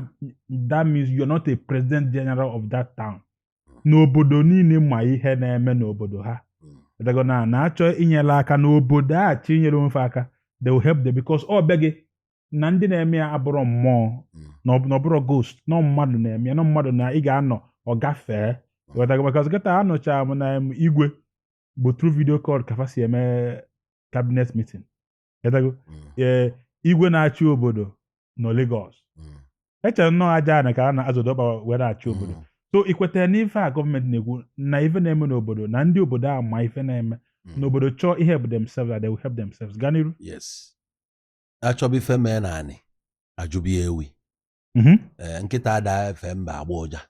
that means you're not a president general of that town na obodo niile ma ihe na-eme n'obodo ha ghọtago na na-achọ inyere aka n'obodo a chọọ inyere onwe fa aka they will help them because ọ bịa gị na ndị na-eme ya abụrọ mmụọ na ọ bụ- na ọ bụrọ ghost na ọ mmadụ na-eme ya na mmadụ na ị ga-anọ ọ gafee ghọtago because kịta anụcha m na em, igwe bụ through video call ka fa si eme cabinet meeting Ịghọtago? Mm. Ee, igwe na-achị obodo nọ Lagos Mm. echere m na ọ aja anị ka a na-azọdo ọkpa wee na-achị obodo Mm. so i kwetara n'ife a gọọmenti na-ekwu na ife na-eme n'obodo na ndị obodo a ma ife na-eme Mm. n'obodo chọọ i-help themselves and they will help themselves gaa n'iru yes achọba ife mee n'anị ajụba ewi Mhm. ee nkịta ada efe mba agba ụja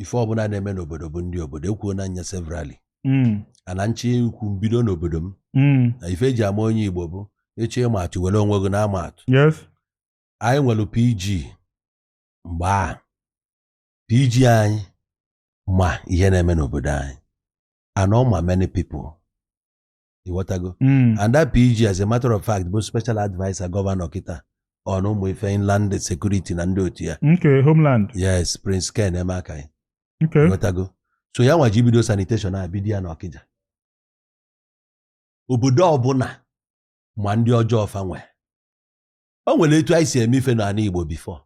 ife ọbụla na-eme n'obodo bụ ndị obodo ekwuona m ya severally mm. and m chọ ikwu m bido n'obodo m mm. na ife eji ama onye Igbo bụ ị chọ ịma atụ were onwe gị na-ama atụ anyị nwere PG mgbe a PG anyị ma ihe na-eme n'obodo anyị and ọ ma many people ịghọtago Mm. and that PG as a matter of fact bụ special adviser gọvanọ kịta on ụmụ ife inland security na ndị otu ya nke homeland yes Prince Ken Emeakayi ịghọtago so ya nwa ji bido sanitation a bido ya n'Ọkịja obodo ọbụla ma ndị ọjọọ fa nwe o nwere etu anyị si eme ife n'ana Igbo before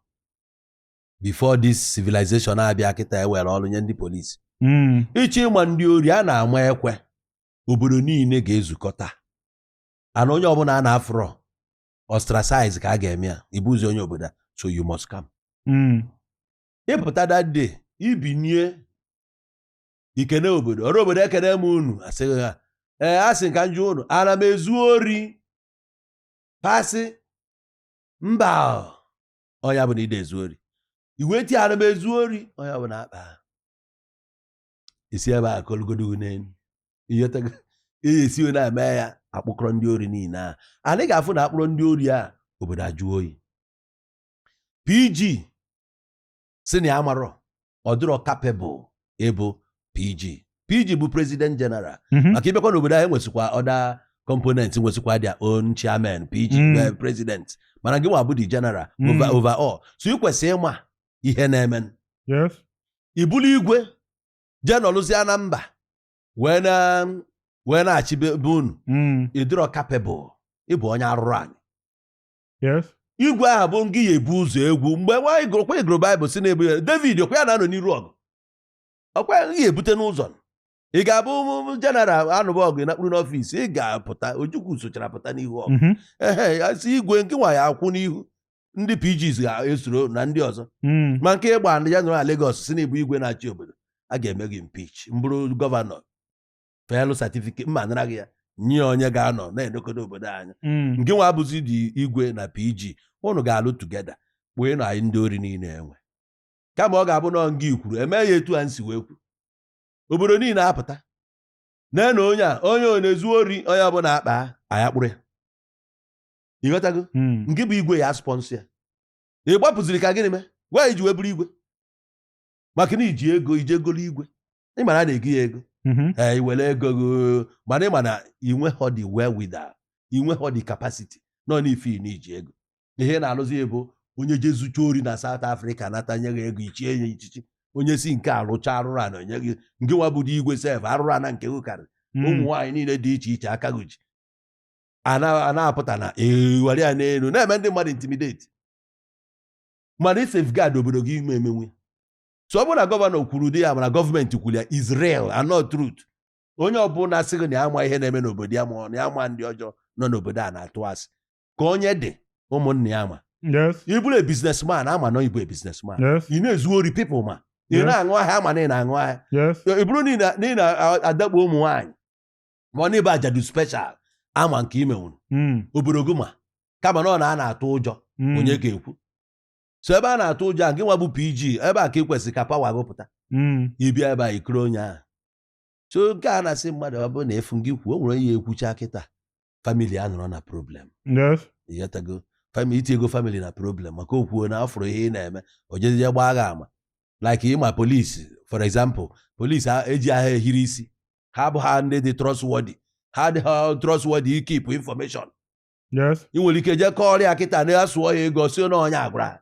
before this civilization abịa kịta ewere ọrụ nye ndị polisi Mm. ịchọ ịma ndị ori a na-ama ekwe obodo niile ga-ezukọta and onye ọbụla a na-afụrọ ostracize ka a ga-eme ya ị bụzi onye obodo a so you must come hmm. ị pụta that day i binye i kene obodo ọra obodo ekene m unu a sị gị ha ee a sị ka m jụọ unu ana m ezu ori fa sị mba onye ọbụna i de ezu ori i wee tie ana m ezu ori onye ọbụna akpa e si ebe a kọlụgodo n'elu ị ghọtago ihe e si onye na-eme ya a kpụkọrọ ndị ori niile a anyị ga-afụ na a kpụrụ ndị ori a obodo ajụọ oyi pg sị na ya amarọ ọ dịrọ capable ịbụ pg pg bụ president general mhm. maka ị bakwa n'obodo anyị nwesịkwa other components nwesịkwa their own chairman pg mm. eh, president mana gị nwa bụ the general mm. overall so ị kwesịrị ịma ihe na-eme ị bụlụ igwe jee nọlụzie na mba wee na wee na-achị be be unu Mm. ị dịrọ capable ịbụ onye arụrụ anyị Yes. igwe ahụ bụ ngị ya-ebu ụzọ egwu mgbe nwa anyị gụrụkwa ị gụrụ baịbụl sị na ị bụ ya david ọkwa ya na-anọ n'iru ọgụ ọkwa ya ngị ya-ebute n'ụzọ ị ga-abụ general a nụba ọgụ nọkpuru n'ọfịs ị ga-apụta ojukwu sochara pụta n'ihu ọgụ mhm. ehe ya sị igwe ngị nwa ya-akwụ n'ihu ndị pgs ga-esoro na ndị ọzọ hmm. ma nke ịgba ndị ya nọrọ na Lagos sị na ị bụ igwe na-achị obodo a ga-eme gị impeach m bụrụ gọvanọ felụ certificate m anara gị ya nye onye ga-anọ na-elekọdo obodo anya hmm. ngị nwa bụzi the igwe na pg ụnụ ga-alụ together kpụọlụ anyị ndị ori niile e nwe kama ọ ga-abụ na nga i kwuru e mee ya etu a m si wee kwu obodo niile apụta nee na onye a onye ọ na-ezu ori onye ọbụla akpa aya kpụrụ ya ị ghọtago hmm. ngị bụ igwe ya-sponsor ya ị gbapụziri ka gịnị mee gwa i ji wee bụrụ igwe maka na i ji ego i jee golu igwe ị mara a na-ego ya ego mhm. ee i nwere ego mana ị ma na i nwehọ the wherewithal i nwehọ the capacity ịnọ n'ife na i ji ego na ihe na-alụzi ya bụ onye jee zucha ori na South Africa nata nye gị ego i chie ya echichi onye si nke a rụcha arụrụ ana o nye gị ngị nwa bụdo igwe sef arụrụ ana nke gị karịrị hmm. ụmụ nwaanyị niile dị iche iche aka gị ji a na-apụta na-ewere ya n'elu na-eme ndị mmadụ intimidate mana ị safeguard obodo gị ị ma emenwu so ọ bụrụ na gọvanọ kwuru dị ya mana gọọmenti kwuru ya is real na ọ truth onye ọbụla sị gị na ya ama ihe na-eme n'obodo ya ma ọ na ya ma ndị ọjọọ nọ n'obodo a na-atụ asị ka onye dị ụmụnna ya ma ị bụrụ a businessman a ma na ị bụ a businessman ị na-ezu ori people ma ị na-aṅụ ahịhịa a ma na ị na-aṅụ ahịhịa ọ bụrụ na ị na-adakpo ụmụ nwaanyị ma ọ na be ajadu special a ma nke i menwuru hmm. obodo gị ma kama na ọ na a na-atụ ụjọ hmm. onye ga-ekwu so ebe a na-atụ ụjọ a gị nwa bụ pg ebe a ka ị kwesịrị ka power gị pụta hmm. ị bịa ebe a i kirie onye ahụ so nke a na-asị mmadụ ọ bụrụ na ị fụ gị kwuo o nwere onye ga-ekwucha kịta famili ya nọrọ na problem Yes. ịghọtago famili iti ego famili na problem maka o kwuo na ọ fụrụ ihe ị na-eme o jezie gbaa gị ama like ịma polisi for example polisi a- ejighị ha ehiri isi ha abụghị ndị dị trustworthy ha adịghị trustworthy ikeep information Yes. ị nwere ike jee kọọrọ ya kịta na ya sụọ ya ego sị na onye a gwara ha.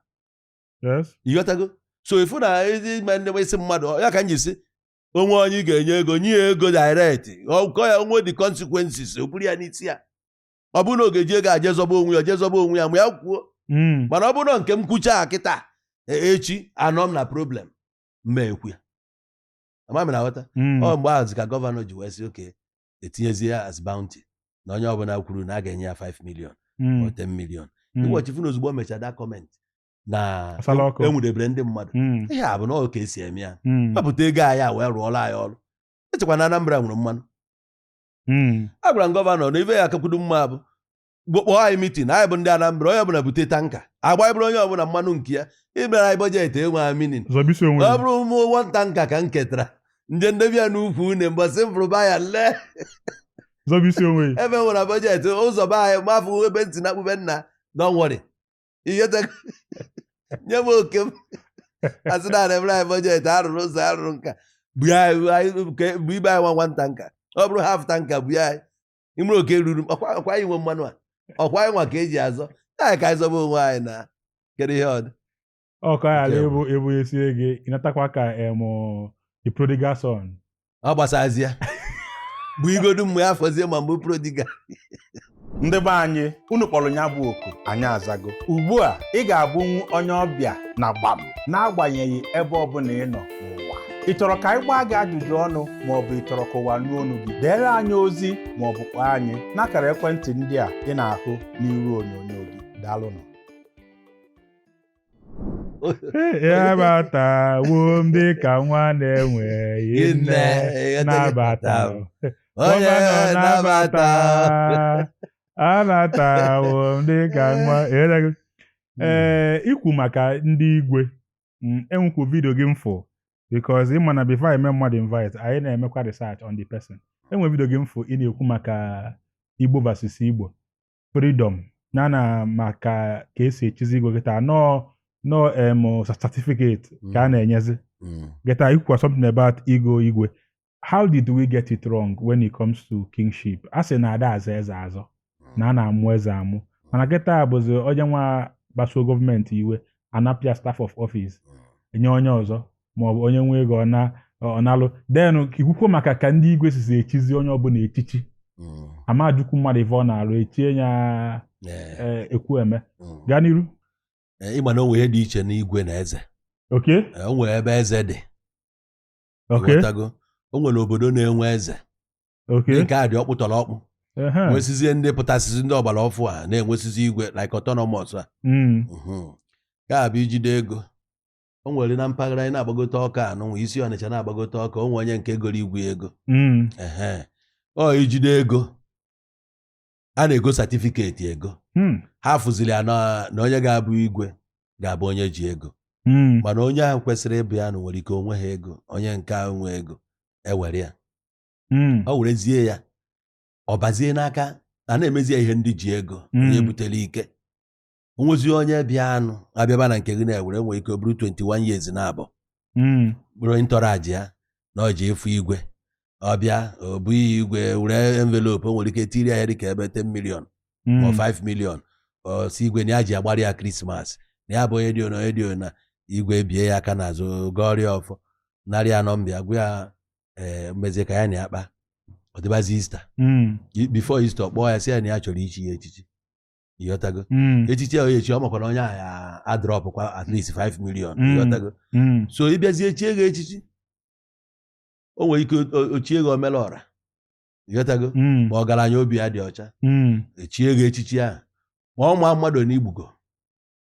Yes. ịghọtago so ị fụ na ezi ime ndị isi mmadụ ya ka m ji si o nwee onye ị ga-enye ego nye ya ego direct ọ kọọ ya o nwee the consequences o buru ya n'isi ya ọ bụrụ na ọ ga-eji ego a je zọba onwe ya je zọba onwe ya ma ya kwuo mm. mana ọ bụrụ na nke m kwucha kịta e, echi anọ m na problem m ma ekwu ya ama m ị na-aghọta mm. ọ mgbe ahụ ka gọvanọ ji wee sị okay etinyezie ya as bounty na onye ọbụla kwuru na a ga-enye ya 5 million mm. or 10 million ị watch ị fụ na ozugbo o mechara that comment na Asala ọkụ. enwudebere ndị mmadụ Mm, ihe a bụ na ọ ka e si eme ya mm, wepụta ego anyị a wee rụọla anyị ọrụ echekwa na Anambra nwere mmanụ mm. a gwara m gọvanọ na ife ga-akakwudo mma bụ gbo- kpọọ anyị mitin anyị bụ ndị Anambra onye ọbụla bute tanka agba bụrụ onye ọbụla mmanụ nke ya ịbịara anyị bọjetị enwe anyị meaning zọbisi onwe ọ gị. bụrụ ụmụ one tanka ka m ketara m je m debe ya n'ukwu une mbọsị m fụrụ buyer lee zọbisi onwe gị. ebe nwere bọjetị ụzọ be anyị mafụ ebe ntị na akpụbe nna don't worry ihe te- nye m oke m a sị na e mere anyị bọjetị a rụrụ ụzọ a rụrụ nka bu ya bu anyị- ke- bu ibe anyị nwa one tanka ọ bụrụ half tanka bu ya anyị imere oke ruru m ọkwa ọkwa anyị nwe mmanụ a ọkwa anyị nwa ka eji azọ anyị ka anyị zọba onwe anyị na kedu ihe ọdụ ọkọ ya ala Nke bụ- ebu ebu esie gị ịnatakwa ka em the prodigal son ọ gbasazie bụ igodu mgbe afọzie ma mgbe prodigal ndị be anyị unu kpọrọ ya bụ oku anyị azago ugbu a ị ga-abụnwu onye ọbịa na gbam n'agbanyeghị ebe ọbụla ị nọ n'ụwa ị chọrọ ka anyị gbaa gị ajụjụ ọnụ ma ọ bụ ị chọrọ ka ụwa nụ olu gị deere anyị ozi ma ọ bụ kpọọ anyị n'akara ekwentị ndị a ị na-ahụ n'iru onyonyo gị daalụnụ abatawo m dịka nwa na-enweghị nne nabata m. gọvanọ nabata anatawo m dịka nwa Ewerego. ee ikwu maka ndị igwe mm, e nwekwa vidio gị m fụ because ị ma na before e mee mmadụ invite anyị na-emekwa research on the person e nwe vidio gị m fụ ị na-ekwu maka igbo versus igbo freedom ya na maka ka e si echizi igwe kịta na ọ na ọ em certificate ka a na-enyezi Mm. kịta i kwukwa something about igo igwe how did we get it wrong when it comes to kingship a sị na a da-azọ eze azọ na a na-amụ eze amụ mana kịta bụzi onye nwa kpasuo gọọmenti iwe a napụ ya staff of office enye onye ọzọ maọbụ onye nwe ego ọ na- ọ na-alụ then i kwukwuo maka ka ndị igwe sizi echizi onye ọbụla echichi Mm. a ma-ajụkwu mmadụ ife ọ na-alụ echie ya Eh, eh, Ekwueme mm. gaa n'iru Eh, ịma na o nwere ihe dị iche n'igwe na eze okay Eh, o nwere ebe eze dị okay ị ghọtago o nwere obodo na-enwe eze okay ndị nke a dị ọkpụtọrọ ọkpụ ehe, nwesizie ndị pụtasịzi ndị ọgbara ọfụụ a na-enwesizi igwe like autonomous a mm, Mhm. ka a bụ i jide ego o nwere na mpaghara anyị na-agbagote Ọka anụnwa i si Ọnịcha na-agbagote Ọka o nwe onye nke goro igwe ego mm. ọ i jide ego a na-ego satifiketi ego hmm. ha fụziri ya na onye ga-abụ igwe ga-abụ onye ji ego hmm. mana onye ahụ kwesịrị ịbụ ya na nwere ike o nweha ego onye nke ahụ nwe ego ewere ya hmm. o werezie ya ọ bazie n'aka a na-emezi ya ihe ndị ji ego onye butere ike o nwezi onye bịa anụ abịaba na nke gị na-ewere nwere ike bụrụ 21 years na abụọ hmm. bụrụ onye ntọrọ aji ya na ọ ji efu igwe ọ bịa obi igwe were envelope nwere ike tiri ya dịka ebe 10 million hmm. ma 5 million sị igwe na ya ji agbara ya Krismas na ya bụ onye dị onye dị na igwe bie ya aka n'azụ gọọrọ ya ọfọ narị anọ mbịa gwa ya eh, mmezie ka ya na ya kpa ọ dịbazi Easter hmm. before Easter ọ kpọọ ya sị ya na ya chọrọ ichi ya echichi ịghọtago Mm, echichi ahụ echi ọ makwa na onye ahụ ya-adrọpụkwa at least 5 million Mm. ịghọtago mm, so ị bịazie chie gị echichi o nwere ike o- o chie gị Omelọra ịghọtago mm, ma ọgaranya obi ya dị ọcha mm, echie gị echichi ahụ ma ọ ma mmadụ one i gbugo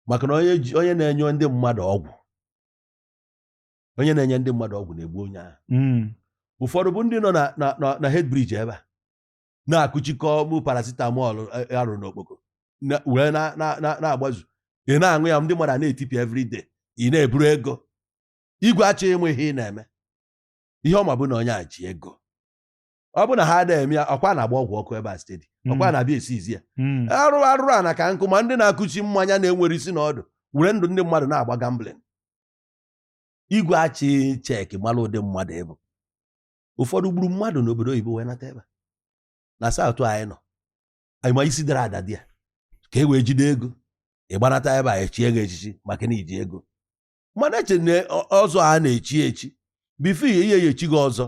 maka na onye ji- onye na-enye ndị mmadụ ọgwụ onye na-enye ndị mmadụ ọgwụ na-egbu onye ahụ mm, ụfọdụ bụ ndị nọ na na na na Head Bridge ebe a na-akụ chalk akpụ paracetamol eh, a rụọ n'Okpoko wee na-agbazu ị na-aṅụ ya ndị mmadụ a na-etipịa everyday ị na-eburu ego igwe achọghị ịma ihe ị na-eme ihe ọ ma bụ na onye a ji ego ọ bụ na ha na-eme ya ọkwa na-agba ọgwụ ọkụ ebe a steady hmm. ọkwa na-abịa esiizi ya hmm. arụrụ arụrụ ana ka nkụ ma ndị na-akụchi mmanya na-enwere isi na ọdụ were ndụ ndị mmadụ na-agba gambling igwe achị cheki mara ụdị mmadụ ị bụ ụfọdụ gburu mmadụ n'obodo oyibo wee nata ebe na South anyị nọ anyị ma isi dara ada dị ya ka e wee jide ego ị gbanata ebe a echie gị echichi maka na i ji ego mana eche na ọzọ a na-echi echi before ihe ihe ya echi gị ọzọ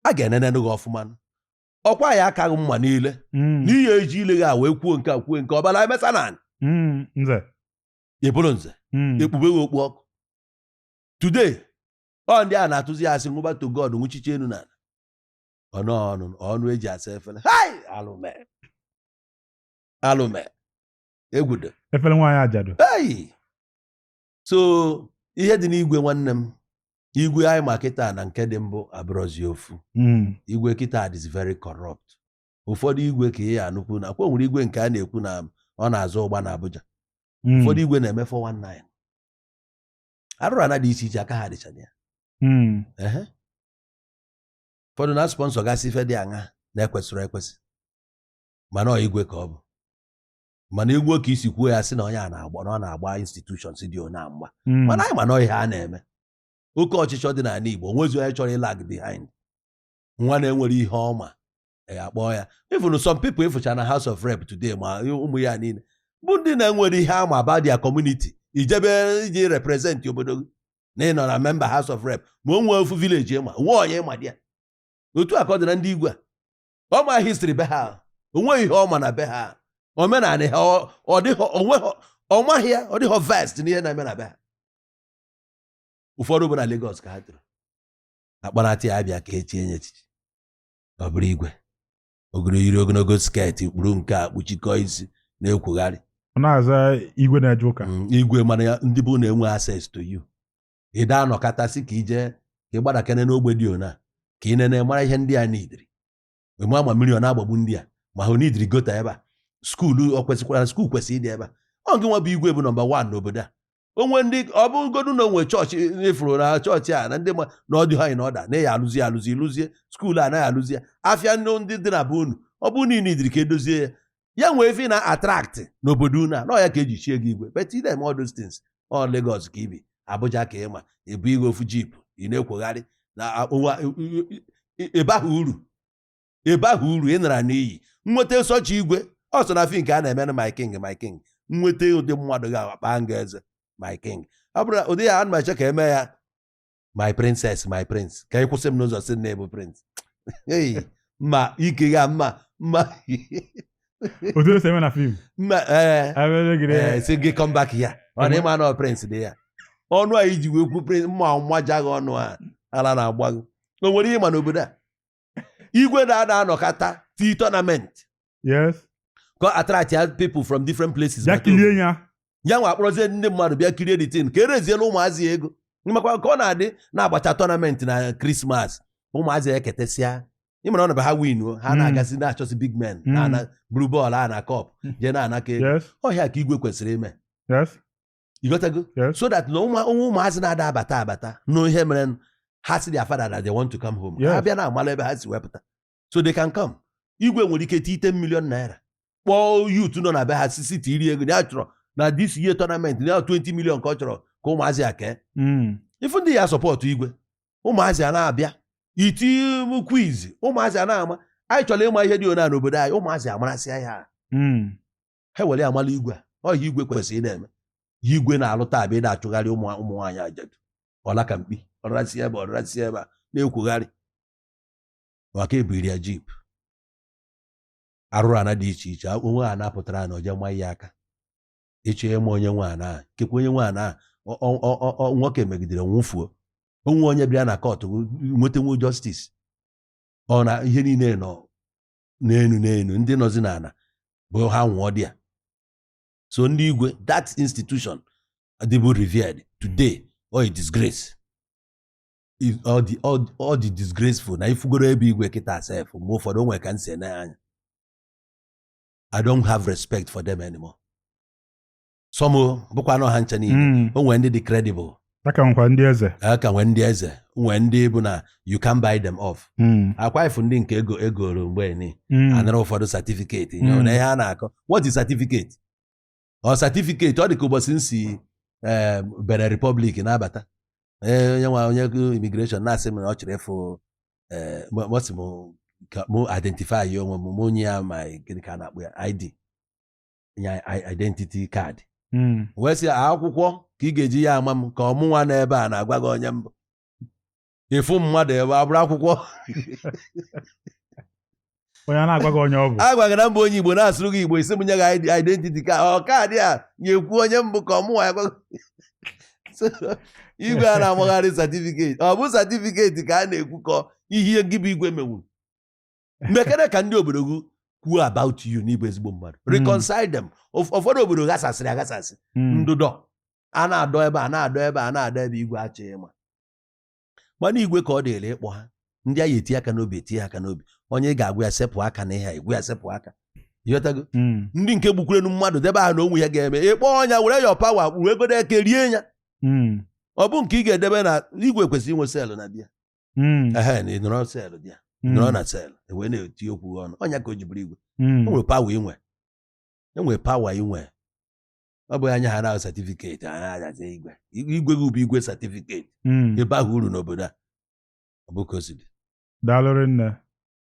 a ga-enenenụ gị ọfụma ọkwa ya akaghị mma niile hmm. n'ihe e ji ile gị e wee kwuo nke a kwuo nke ọbara emesa na hmm, nze ị bụrụ nze hmm. ekpube gị okpu ọkụ today ọ ndị a na-atụzi asị nwụba to God nwụchiche enu na ọnụ ọnụ ọnụ eji asa efere hai alụme alụme egwudo efere nwaanyị ajadu ei so ihe dị n'igwe nwanne m igwe anyị ma kịta na nke dị mbụ abụrọzi ofu Mm. igwe kịta is very corrupt ụfọdụ igwe ka ị ya-anụkwu na kwa nwere igwe nke a na-ekwu na ọ na-azụ ụgba na Abuja Mm. ụfọdụ igwe na-eme 419 arụrụ ana dị iche iche aka ha dịcha na ya hmm. ụfọdụ na sponsọ gasị ife dị aṅa na-ekwesịrị ekwesị mana ọ igwe ka ọ bụ mana igwe ka isi kwuo ya sị na onye a na-agba na ọ na-agba institutions dị ona mgba hmm. mana anyị ma na ihe a na-eme oke ọchịchọ dị n'ala Igbo o nwezi onye chọrọ ịlag behind nwa na-enwere ihe ọ ma ya akpọọ ya even some people ị fụcha na House of Rep today ma ụmụ ya niile bụ ndị na-enwere ihe ha ma about their community i jebe iji represent obodo gị na ị nọ na memba House of Rep ma o nwee ofu village ị ma o nwee onye ị ma dị ya otu a ka ọ dị na ndị igwe a ọ ma history be ha o nweghị ihe ọ ma na be ha omenala ha ọ dịghị onwe ha ọ maghị ya ọ dịghị vast n'ihe na-eme na be ha ụfọdụ bụ na Lagos ka ha toro a kpọnata ya a bịa ka e chinye echichi ọ bụrụ igwe ogoro yiri ogologo sket kpuru nke a kpuchikọọ isi na-ekwugharị ọ na-aza igwe na-eje ụka Mm, igwe mana ya ndị be unu enwe access to you ị da anọkọta sị ka i je ka ị gbadakene n'ogbe dị ona ka ị nene mara ihe ndị a nidiri ma ma mmiri ọ na-agbagbu ndị a ma ha nidiri gọta ebe a skuulu ọ kwesịkwara skuul kwesịrị ịdị ebe a ọ gị nwa bụ igwe bụ nọmba wan n'obodo a o nwe ndị ọ bụgodu na o nwe chọọchị ị fụrụ na chọọchị a na ndị ma na ọ dị ha na ọda na ya alụzi alụzi lụzie skuulu anaghị alụzi ya afịa ndị dị na be unu ọ bụ nidiri ka e dozie ya ya nwee ife na-atraktị n'obodo unu a na ọ ya ka eji chie gị igwe but ị da-eme all those things ọ Lagos ka i bi Abuja ka ị ma e bunye gị ofu jip ị na-akwọgharị na ebe ahụ uru ebe ahụ uru ị nara n'iyi nweta such igwe ọ sọ na fim ka a na-eme na my king my king nweta ụdị mmadụ ga-akpa nga eze my king ọ bụrụ na ụdị ya ana m eche ka eme ya my princess my prince ka ị kwụsị m n'ụzọ sị na ị bụ prince ei ma ike ya mma mma otu esi eme na fim mma ee abịa gịrị ee sị gị come back ya ọ na ị ma na ọ prince dị ya ọnụ a i ji wee kwu prince m maja gị ọnụ a ala na-agba gị o nwere ihe ị ma n'obodo a igwe na-ana anọkata tie tournament yes ka attract ya people from different places ya kilie ya ya nwa akpọrọzie ndị mmadụ bịa kirie the thing ka e reziela ụmụazị a ego makwa ka ọ na-adị na-agbacha tournament na krismas ụmụazị ya eketesịa ị mara ọ ndị be ha win ha hmm. na-agazi na-achọsị big men hmm. na buru bọọlụ a na kọp hmm. jee na-anakọ ego ọ ihe a ka igwe kwesịrị ime ịghọtago so that na o nwe ụmụazị na-ada abata abata n'ihe mere ha sị their father na they want to come home ha bịa na amala ebe ha si wepụta so they can come igwe nwere ike ti 10 million naira kpọọ youth nọ na be ha sisi tiri ego ya chọrọ na this year tournament na 20 million ka ọ chọrọ ka ụmụazị a kee hmm. ị fụ ndị ya support igwe ụmụazị a na-abịa iti quiz ụmụazị a na-ama anyị chọrọ ịma ihe dị ona n'obodo anyị ụmụazị amarasịa ya hmm. ha were ya mara igwe a ọ ihe a igwe kwesịrị na-eme ihe igwe na-alụ taa bụ ị na-achụgharị ụmụ nwaanyị ajadu ọla ka mkpi ọrasi ebe ọrasi ebe a na-ekwugharị maka ebiri ya jeep arụrụana dị iche iche onwe ha na-apụtara na oje ma ya aka ịchọ ịma onye nwaanyị a nkekwa onye nwaanyị a nwoke megidere nwụfuo o nwe onye bịara na court nwetanwu justice ọ na ihe niile nọ n'elu n'elu ndị nọzi n'ala bụ ha nwụọ dị ya so ndị igwe that institution dịbụ revered today ọ a disgrace ọ dị disgraceful na ị fụgoro ebe igwe kịta sef mgbe ụfọdụ o nwere ka m si ene anya I don't have respect for them anymore. some ọ bụkwanụ ha ncha niile Mm. o nwere ndị dị credible a ka nwekwa ndị eze a ka nwee ndị eze nwee ndị bụ na you can buy them off Mm. ọkwa ị fụ ndị nke e goro mgbe ni Mm. a nara ụfọdụ certificate Mm. nyere na ihe a na-akọ what is certificate ọ certificate ọ dị ka ụbọchị m si eh, Benin Republic na-abata Eh, onye nwa onye immigration na-asị m na ọ chọrọ ịfụ eh, m- ọ sị m ka mụ identify onwe m mụ nye ya ma gịnị ka a na-akpọ ya ID ya identity card hmm. wee sị akwụkwọ ka ị ga-eji ya ama m ka ọ mụnwa nọ ebe a na-agwa gị onye m bụ ị fụ mmadụ ebe a bụrụ akwụkwọ onye a na-agwa gị onye ọ bụ agwa gị na m bụ onye igbo na-asụrụ gị igbo ị sị m nye gị identity card ọ card a ya-ekwu onye m bụ ka ọ mụnwa ya-agwa igwe a na-amagharị certificate ọ bụ certificate ka a na-ekwu ka ọ ihe gị bụ igwe menwuru mekere ka ndị obodo gị kwuo about you na ị bụ ezigbo mmadụ hmm. reconcile them ụfọdụ obodo ghasasịrị aghasasị hmm. ndụdọ a na-adọ ebe a na-adọ ebe a na-adọ ebe igwe achọghị ịma mana igwe ka ọ dịrị ịkpọ ha ndị anyị eti aka n'obi eti aka n'obi onye ga-agwa ya sepụ aka na ihe igwe ya sepụ aka ịghọtago hmm. ndị nke gbukwurenu mmadụ debe ha na onwe ya ga-eme ị kpọ onye a were your power kpuru egodo eke rie ya ọ bụ nke ị ga-edebe na igwe kwesịrị inwe cell na be ya Mm, ehe na ị nọrọ cell dị ya mm, nọrọ na cell e wee na-eti okwu gị ọnụ ọ nya ka o ji bụrụ igwe mm, o nwere power ị nwe e nwere power ị nwe ọ bụghị anya ha na certificate ha na-azazi igwe igwe gị bụ igwe certificate mm. ị baghị uru n'obodo a ọ bụ ka o si dị daalụ rinne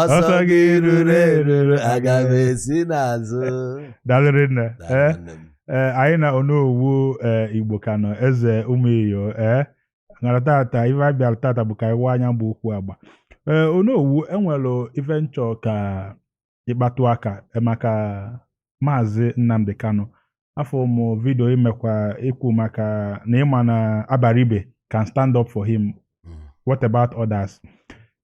ọsọ gị ruru eruru, aga m esi n'azụ daalụ rinne Daalụ ee nwanne m. ee anyị na onowu ee igbo ka nọ eze ụmụ iyo ee ngara tata ife anyị bịara tata bụ ka anyị waa anya bụ okwu agba ee onowu e nwere ife m chọ ka ị kpatụ aka eh, maka maazị nnamdi kanu afụ m vidio i mekwa i kwu maka na ị ma na abaribe can stand up for him mm. what about others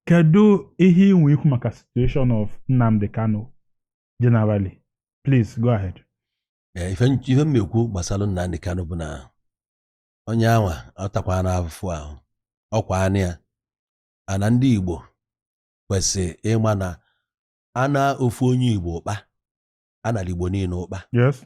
kedu ihe i nwe ikwu maka situation of Nnamdi Kanu generally please go ahead eh, ife m ma-ekwu gbasara Nnamdi Kanu bụ na onye anwa atakwaana afụfụ ahụkwa anya ana ndị Igbo kwesịrị ịma na ana ofu onye Igbo kpa a nara igbo niile ụkpa yes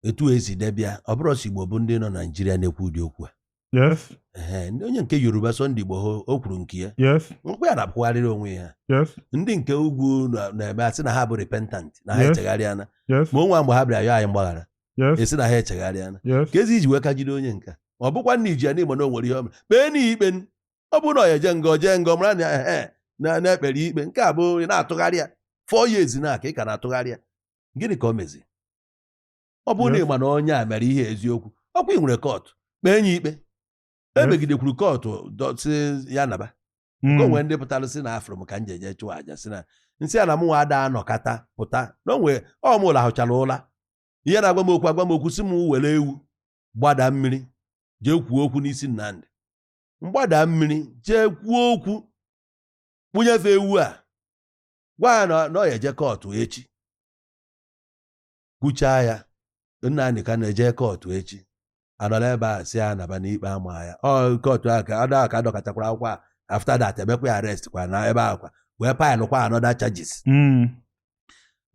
etu e si debe ya ọ bụrụ sọ igbo bụ ndị nọ naijiria na-ekwu ụdị okwu a yes Ehe, ndị- onye nke yoruba Sunday Igboho o kwuru nke ya yes nekwa ya na-apụgharịrị onwe ya yes ndị nke ugwu na- na-eme a sị na ha bụ repentant na ha Yes. echegharịana yes ma o nwe mgbe ha bịara yọọ anyị mgbaghara yes a sị na ha echegharịana yes kezi e ji wee ka jide onye nka ọ bụkwa na e ji ya n'ihi na o nwere ihe o mere kpeenụ ya ikpe ọ bụrụ na ọ ya-eje nga ọ jee nga mara na ehe na e kpere ikpe nke a bụ ị na-atụgharị ya four years na-aga ị ka na-atụgharị ya gịnị ka o mezi ọ bụrụ na ị ma na onye a mere ihe eziokwu ọkwa ị nwere kọtụ kpee ya ikpe emegidekwuru kọtụ sị ya naba hmm. ka o nwee ndị pụtara sị na afụrụ m ka m ji jee chụọ aja sị na m sị ha na mụnwa ada anọkata pụta na onwe ọ m ụla lahụchara ụla ihe na-agwa m okwu agwa m okwu sị m were ewu gbada mmiri jee kwuo okwu n'isi Nnamdi m gbada mmiri jee kwuo okwu bunye fa ewu a gwa ya na ọ ya-eje kọtụ echi kwuchaa ya Nnamdi Kanu eje kọtụ echi anọla ebe a sị ya naba na ikpe ama ya ọ kọtụ a ka ada ka dọkọtakwara akwụkwọ a after that e mekwa ya arrest kwa na ebe ahụ kwa wee faịlụkwa another charges hmm.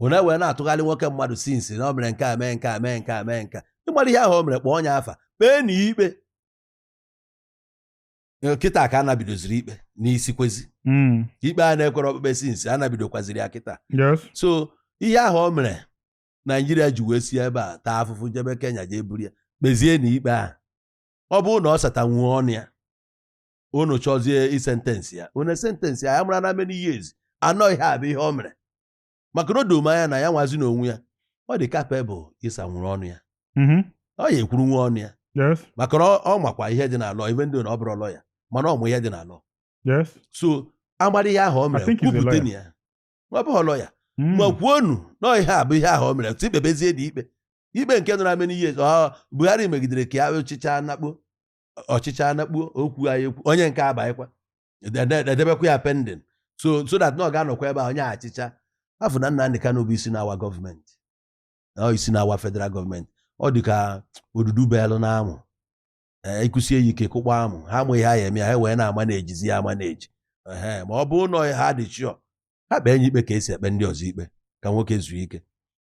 unu wee na-atụgharị nwoke mmadụ since na o mere nke a mee nke a mee nke a mee nke a agbara ihe ahụ o mere kpọọnụ ya afa kpeenụ ya ikpe Eh, kịta ka a na-ebidoziri ikpe n'isi kezi Mm. ikpe a na-ekpere okpukpe since a na-ebidokwaziri ya kịta Yes. so ihe ahụ o mere naijiria ji wee si ebe a taa afụfụ jebe kenya jee buru ya kpezienụ ya ikpe ahụ ọ bụrụ na ọ satanwuo ọnụ ya unu chọzie ịsentence ya unu sentence ya ya mara na many years anọ ihe a bụ ihe o mere maka na o do m anya na ya nwazi n'onwe ya ọ dị capable ịsanwuru ọnụ ya mhm. ọ ya-ekwurunwu ọnụ ya maka na ọ makwa ihe dị na law even though na ọ bụrọ lọya mana ọ ma ihe dị na law so agbara ihe ahụ o mere kwupụtanụ ya ọ bụghị lọya hmm. ma kwuonụ na ihe a bụ ihe ahụ o mere tụ ikpebezie dị ikpe ikpe nke nọrọ how many years Buhari megidere ka ya ọchịchị anakpo ọchịchị anakpo okwu anyị ekwu onye nke abaghịkwa edebekwa ya pending so so that na ọ ga-anọkwa ebe a onye achịcha afụ na Nnamdi Kanu bụ isi na-awa gọọmenti na ọ isi na-awa federal gọọmenti ọ dị ka odudu belụ n'amụ e, ịkụsie ya ike kụkpọọ amụ ha amaghị ihe ha ya-eme ha wee na-amanejizi ya amaneji ma ọ bụ na ha dị sure ha kpee nya ikpe ka esi ekpe ndị ọzọ ikpe ka nwoke zuo ike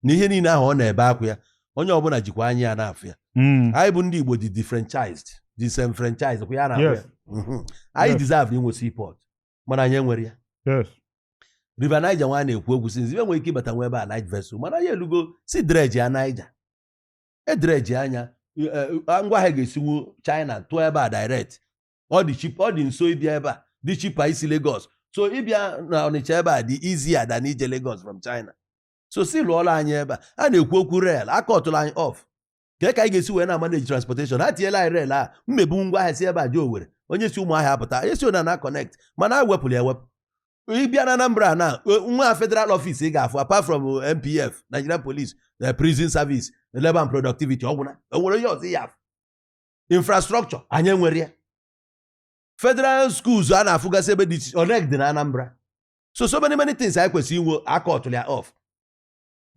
na ihe niile ahụ ọ na-ebe akwa ya onye ọbụla jikwa anya ya na-afụ ya hmm. anyị bụ ndị Igbo dị diffranchised disenfranchised kwa ya na ya mhm. anyị deserve inwe seaport mana anyị enwerọ ya River Niger nwa a na-ekwu okwu since ibe nwere ike ịbata nwa ebe a light vessel mana ya elugo sị dreji ya Niger edreji anya e, e, ngwa ahịa ga-esiwu China tụọ ebe a direct ọ dị cheap ọ dị nso ịbịa ebe a dị cheaper isi Lagos so ịbịa na Ọnịcha ebe a dị easier than ije Lagos from China so sị lụọla anyị ebe a a na-ekwu okwu rail akọtụla anyị off kee ka anyị ga-esi wee na-amaneji transportation ha tinyela anyị rail a na-ebu ngwa ahịa si ebe a jee Owerri onye si Ụmụahịa apụta onye si ona na connect mana e wepụrụ ya ewepụ ị bịa na Anambra na nwa federal office ị ga-afụ apart from NPF Nigerian Police na prison service labor and productivity ọ gwụna enwerọ onye ọzọ ị ya-afụ infrastructure anyị enwerọ ya federal schools a na-afụgasị ebe dị iche iche o nweghị nke dị na Anambra so so many many things anyị kwesịrị inwe akọtụlụ ya off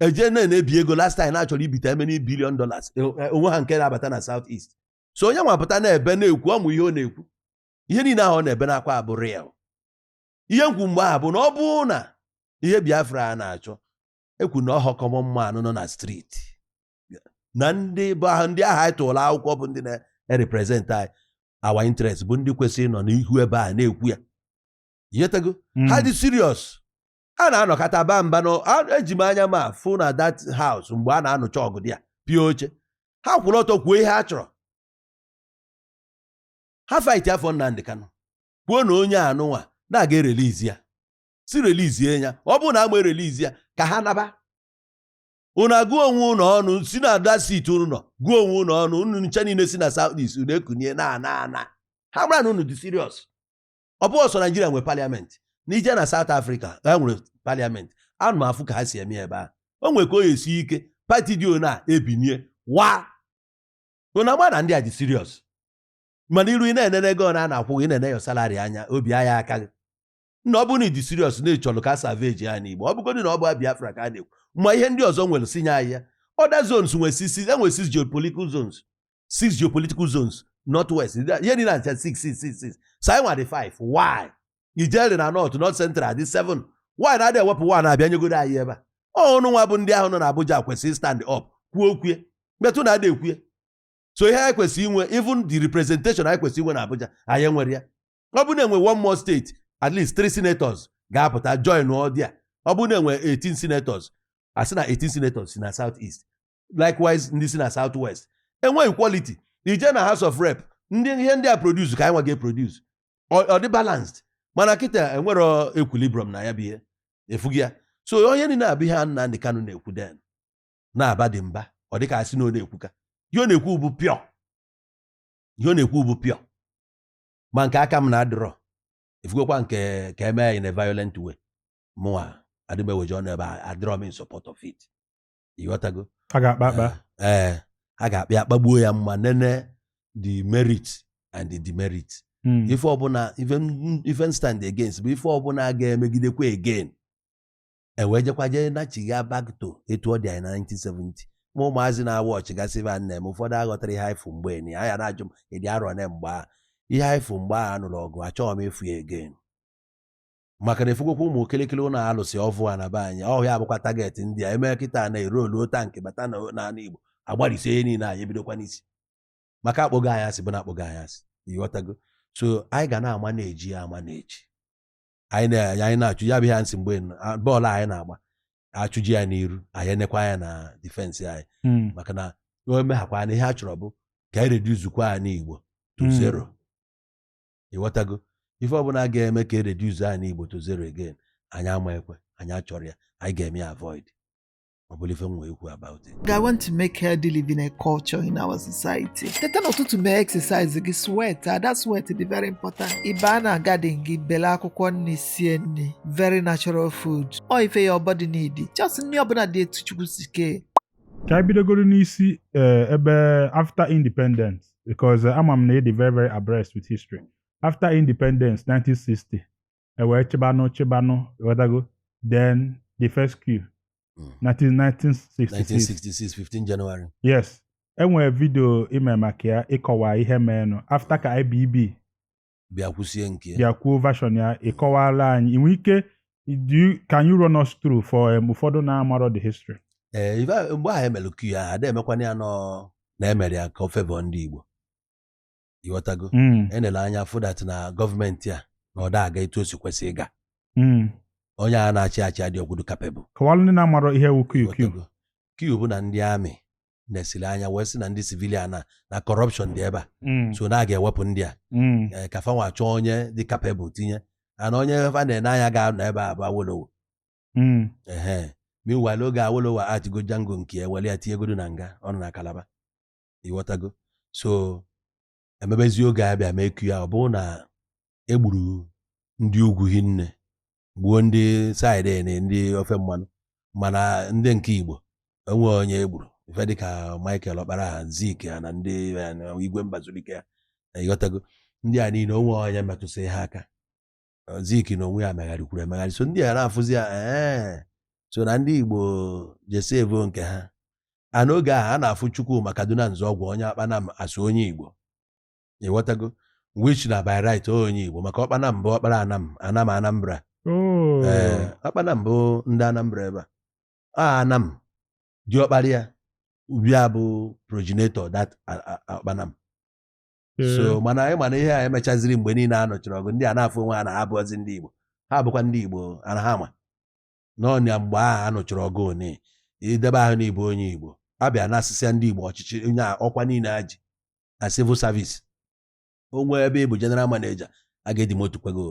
eje na na-ebi ego last time na-achọrọ ibite how many billion dollars e- e- o nwerọ nke na-abata na south east so onye nwa pụta na-ebe na-ekwu ọ ma ihe ọ na-ekwu ihe niile ahụ ọ na-ebe n'akwa bụ real ihe m kwu mgbe ahụ bụ na ọ bụrụ na ihe Biafra a na-achọ ekwu na ọhọ common man nọ na street na ndị bụ ahụ ndị ahụ anyị tụrụ akwụkwọ bụ ndị na-represent anyị our interest bụ ndị kwesịrị ịnọ n'ihu ebe a na-ekwu ya yetago ha hmm. dị serious a na-anọkọta ba mba na eji m anya m afụ na that house mgbe a na-anụcha ọgụ dị ya pịa oche ha kwụrụ ọtọ kwuo ihe ha chọrọ ha fight for Nnamdi Kanu kwuo na onye anụnwa na a ga-erelizi ya sị relizie ya ọ bụrụ na ama erelizi ya ka ha naba unu agụọ onwe unu ọnụ sị na ada sit unu nọ gụọ onwe unu ọnụ unu ncha niile si na south east unu ekunie na-ana ana ha mara na unu dị serious ọ bụghị sọsọ Nigeria nwere parliament na ị je na South Africa ha nwere parliament ana m afụ ka ha si eme ebe a o nwere ka o esi ike party dị ona ebinie wa unu ama na ndị a dị serious mana iru ị na-enene ego a na-akwụ gị na-ene your salary anya obi ama aka gị na ọ bụrụ na ị dị serious na ị chọrọ ka salvage anị Igbo ọ bụgodị na ọ bụ Biafra ka a na-ekwu ma ihe ndị ọzọ nwere sị nye anyị ya other zones nwere six enwere six geopolitical zones six geopolitical zones north west ihe niile ncha six six six six so anyị nwere five why i jere na north north central dị seven why na adị ewepụ one abịa nyegoro anyị ebe a unu nwa bụ ndị ahụ nọ na Abuja kwesịrị stand up kwuo okwue but unu ada ekwue so ihe anyị kwesịrị inwe even the representation anyị kwesịrị inwe na Abuja anyị enwerọ ya ọ bụ na enwe one more state at least three senators ga-apụta join ọdịa ọ bụ na enwe 18 senators asị na 18 senators si na south east likewise ndị si na south west enwe equality ị je na house of rep ndị ihe ndị a produce ka anyị nwa ga-eproduce ọ dị balanced mana kịta enwerọ equilibrium na ya bụ ihe efughị ya so ihe niile a bụ ihe a Nnamdi Kanu na-ekwu then na-aba dị mba ọ dịka asị na ọ na-ekwuka ihe ọ na-ekwu bụ pure ihe ọ na-ekwu bụ pure ma nke aka m na-adịrọ ị fụgokwa nke ka eme ya in a violent way mụnwa adị m eweji ọnụ ebe a adịrọ m in support of it ịghọtago a ga-akpa akpa ee a ga-akpa ya kpagbuo ya ma nene the merit and the demerit Mm. ife ọbụla ife m- ife m stand against bụ ife ọbụla ga-emegidekwa again e wee jekwa jee nachigha back to etu ọ dị anyị na 1970 ma ụmụazị na-awa ọchị gasị ife a na-eme ụfọdụ aghọtarọ ihe anyị fụ mgbe n'anya na-ajụ m ị dị arọ one mgbe a ihe anyị fụ mgbe a nụrụ ọgụ achọghị m ịfụ ya again maka na ị fụgokwa ụmụ kịrịkịrị ụlọ a lụsị ọvụ a na be anyị ọ ya bụkwa target ndị a eme kịta na e roluo tankị bata na n'ala Igbo agbalịsie ihe niile anyị ebidokwa n'isi maka akpọgo anyị asị bụ na akpọgo anyị asị ịghọtago so anyị ga na-ama na-eji ya ama na-eji anyị na- anyị na-achụ ya bụ ihe m sị mgbe nọ, a- bọọlụ a anyị na-agba a chụje ya n'iru anyị enekwa anya na defense anyị Mm. maka na o meghakwa na ihe a chọrọ bụ ka anyị reducekwa ani Igbo to Mm. zero ịghọtago ife ọbụla ga-eme ka e reduce ani Igbo to zero again anyị ama ekwe anyị achọrọ ya anyị ga-eme ya avoid ọ bụla ife m nwe ikwu about it I want to make healthy living a culture in our society. Teta n'ụtụtụ mee exercise gị sweat that sweat dị very important. Ị baa na garden gị bele akwụkwọ nri sie nri very natural food. Ọ ife your body need. Just nri ọbụla dị etu Chukwu si kee. ka anyị bidogoro n'isi eh, ebe after independence because eh, ama m na ị dị very very abreast with history after independence 1960 e wee chịbanụ chịbanụ ịghọtago then the first coup Mm. na 1966 1966 15 January yes enwere vidio i mere maka ya ị kọwa ihe meenụ after ka IBB bịa kwụsie nke ya bịa kwuo version ya ị kọwaala anyị i nwe ike do you- can you run us through for um, ụfọdụ na-amarọ the history ee ife a- mgbe ahụ emere coup ya ada emekwana ya nọ na emere ya ka ọ favour ndị Igbo ịghọtago Mm. enele anya fụ that na gọọmenti a na ọ da aga etu o si kwesị ịga Mm. onye a na-achị achị adịrọgodu capable kọwalụ ndị na-amarọ ihe wu coup Ghọtago? coup bụ na ndị army nesiri anya wee sị na ndị civilian na na corruption dị ebe a Mm. so na a ga-ewepụ ndị a Mm. ee, ka fanwa chọọ onye dị capable tinye ana onye fa na-ene anya ga-anọ ebe a bụ Awolowo Mm. ehe meanwhile oge Awolowo atigo jango nke ya e were ya tinyegodo na nga ọ nọ na Calabar ịghọtago so emebezi oge abịa mee coup ya ọ bụ na egburu ndị ugwu hinne gbuo ndị side na ndị ofe mmanụ mana ndị nke igbo onwe onye egburu ife dịka michael ọkpara ha zik ha na ndị igwe mbazulike ha ịghọtago ndị a niile onwe onye metụsị ha aka Eh, Zik na onwe ya megharịkwuru emegharị so ndị a na-afụzi ya ee so na ndị Igbo je save nke ha a n'oge ahụ a na-afụ Chukwuma Kaduna Nzeogwu onye Ọkpanam as onye Igbo ịghọtago which na by right onye Igbo maka Ọkpanam bụ ọkpara anam anam Anambra Oh. ee Ọkpanam bụ ndị Anambra ebe a a anam diọkpara ya bịa bụ progenitor that a- a- a- Ọkpanam so mm. mana ị ma na ihe a emechaziri mgbe niile a nụchara ọgụ ndị a na-afụ onwe ha na ha abụọzi ndị Igbo ha bụkwa ndị Igbo and ha ma na ọ nya mgbe ahụ a nụchara ọgụ once i deba aha na ị bụ onye Igbo abịa anasịsịa ndị Igbo ọchịchị na ọkwa niile ha ji na civil service o nwee ebe ị bụ general manager a ga-edemote kwa gị